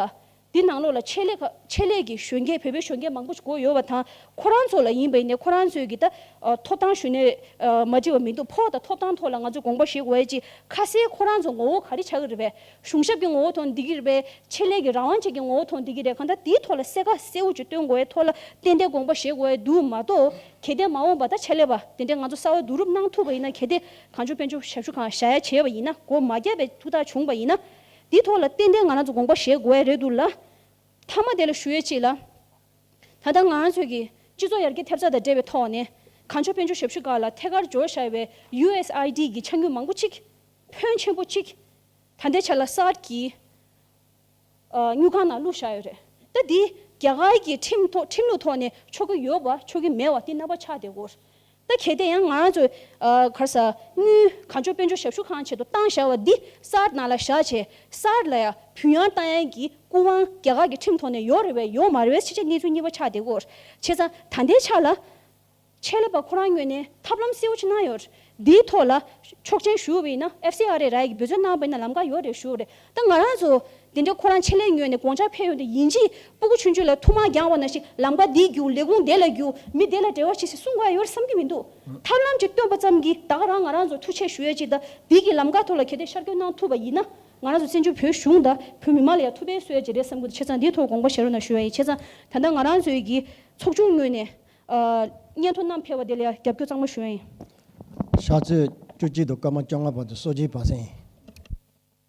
S8: འདི་ནང་ལོགས་ལ་ཆེད་ལས་ཆེད་ལས་ཀྱི་གཞོན་སྐྱེས་བོད་པའི་གཞོན་སྐྱེས་མང་པོ་ཞིག་བསྐོས་ཡོད་པ་དང་ཁོ་རང་ཚོ་ལ་ཡིན་པ་ཡིན་ནས་ཁོ་རང་ཚོས་ཀྱིས་ད་ཐོབ་ཐང་ཞུས་ནས་མ་འབྲི་བ་མི་འདུག་ཕོག་ད་ཐོབ་ཐང་ཐོག་ལ་ང་ཚོས་དགོངས་པ་བཞེས་དགོས་ཡ་ཅིག་ཁ་གསལ་ཁོ་རང་ཚོ་ངོ་བོ་ག་རེ་ཆགས་ཀྱི་རེད་པས་གཞུང་ཞབས་ཀྱི་ངོ་བོ་ཐོག་འདི་གི་རེད་པས་ཆེད་ལས་ཀྱི་རང་དབང་བཅས་ཀྱི་ངོ་བོ་ཐོག་འདི་གི་རེད་གང་ལྟར་དེའི་ཐོག་ལ་གསལ་ཁ་གསལ་བོ་ཅིག་སྟོན་དགོས་ཡའི་ཐོག་ལ་ཏན་ཏན་དགོངས་པ་བཞེས་དགོས་ཡ་འདུག་མ་གཏོགས་གལ་ཏེ་མ་འོངས་པ་ད་ཆེད་ལས་པ་དེ་འདྲས་ང་ཚོ་གསར་བ་བསྡུ་རུབ་གནང་ཐུབ་པ་ཡིན་ན་གལ་ཏེ་གང་བྱུང་དཔལ་འབྱོར་ཞབས་ཞུ་གང་བྱ་ཡ་བྱས་པ་ཡིན་ན་སྒོ་མ་བརྒྱབ་པའི་ཐུགས་ཐག་བྱུང་པ་ཡིན་ན་དེའི་ཐོག་ལ་ཏན་ཏན་ང་རང་ཚོ་དགོངས་པ་བཞེས་དགོས་ཨེ་རེད་འདུག་ལ། མཐའ་མ་དེ་ལ་ཞུ་ཡས་ཅིག་ལ། ད་ལྟ་ང་རང་ཚོས་ཀྱི་སྤྱི་ཚོགས་ཡར་རྒྱས་ཐེབས་རྩ་དང་འབྲེལ་བའི་ཐོག་ནས། གངས་ལྗོངས་དཔལ་འབྱོར་ཞབས་ཞུ་ཁག་ལ་ཐད་ཀར་འབྱོར་བཞག་པའི USID ཀྱི་ཆ་སྙོད་མང་པོ་ཅིག། ཕོན་ཆེན་པོ་ཅིག། ད་ལྟའི་ཆ་ལ་གསར་གྱི། སྨྱུག་ཁང་ནང་བླུགས་བཞག་ཡོད་རེད། ད་འདི་རྒྱ་གར་གྱི་ཁྲིམས་ཐོག་ཁྲིམས་ལུགས་ཐོག་ནས་ཆོག་གི་ཡོད་བ་ཆོག་གི་མེད་བ་དེ་རྣམ་པ་ཆགས་བསྡད་དགོས། ད་གལ་ཏེ་ཡང་ང་རང་ཚོས་གར་ས་དངུལ་གང་བྱོ་དཔོན་བྱོ་ཞབས་ཞུ་གང་བྱེད་དུ་བཏང་བཞག་བ་འདི་གསར་ནང་ལ་བཞག་བྱས་གསར་ལ་ཡང་བུ་ཡང་རྟ་ཡང་གི་སྐུ་དབང་རྒྱ་གར་གི་ཁྲིམས་ཐོག་ནས་ཡོག་རེ་བས་ཡོག་མ་རེ་བས་ཕྱི་ཆ་གནས་ཚུལ་གཉིས་པ་ཆགས་དེ་གོ་ཆེ་ཚང་ད་ལྟའི་ཆ་ལ་ཆད་ལས་པ་ཁོ་རང་ངོས་ནས་ཐབས་ལམ་གསལ་བོ་ཆེ་གནང་ཡོག་འདིའི་ཐོག་ལ་ཆོག་ཆན་ཞུ་བ་ཡིན་ན FCRA ར་ཡི་གི་འབོད་བརྩོད་གནང་བ་ཡིན་ན་ལམ་ཀ་ཡོག་རེ་ཞུ་རེ། ད་ང་རང་ཚོ་དེ་འདྲ་ཁོ་རང་ཆེད་ལས་ཉོས་ནས་དགོངས་འཆར་ཕེབས་ཡོང་དུས་ཡིན་གཅིག་སྤུ་གུ་ཆུང་ཆུང་ལ་ཐུགས་མ་འགྱངས་བ་ན་ཞིག་ལམ་ཀ་འདིས་རྒྱུགས་ལས་ཁུངས་དེ་ལ་རྒྱུགས་མི་བདེ་ལ་བྲེལ་བ་ཆེ་སྲིད་གསུང་ག་ཡོད་རེད་བསམ་གྱི་མི་འདུག་ཐབས་ལམ་ཅིག་བཏོན་པ་ཙམ་གྱིས་བདག་རང་ང་རང་ཚོ་ཐུགས་ཆེ་ཞུ་ཡ་ཅིག་ད་དུས་ཀྱི་ལམ་ཀ་ཐོག་ལ་གལ་ཏེ་ཤར་སྐྱོད་གནང་ཐུབ་པ་ཡིན་ན་ང་རང་ཚོ་བཙན་བྱོལ་བོད་གཞུང་དང་བོད་མི་མང་ལ་ཡང་ཐུགས་ཕན་གསོ་ཡ་ཅིག་རེད་བསམ་ཀི་འདུག་ཆེ་ཚང་འདིའི་ཐོག་དགོངས་པ་བཞེས་རོགས་གནང་ཞུ་ཡ་ཡིན་ཆེ་ཚང་ད་ལྟ་ང་རང་ཚོའི་གི་ཚོགས་ཆུང་ངོས་ནས་སྙན་ཐོ་བསྣམས་ཕེབས་པ་དེ་ལ་ཡང་རྒྱབ་
S2: སྐྱོར་གཙང་མ་ཞུ་
S8: ཡ་ཡིན།
S2: ཤར་ཚོད་
S8: བཅུ་
S2: གཅིག་དུ་སྐར་མ་
S8: བཅོ་ལྔ་
S2: བར་དུ་གསོལ་
S8: ཇིའི་བར་
S2: གསེང།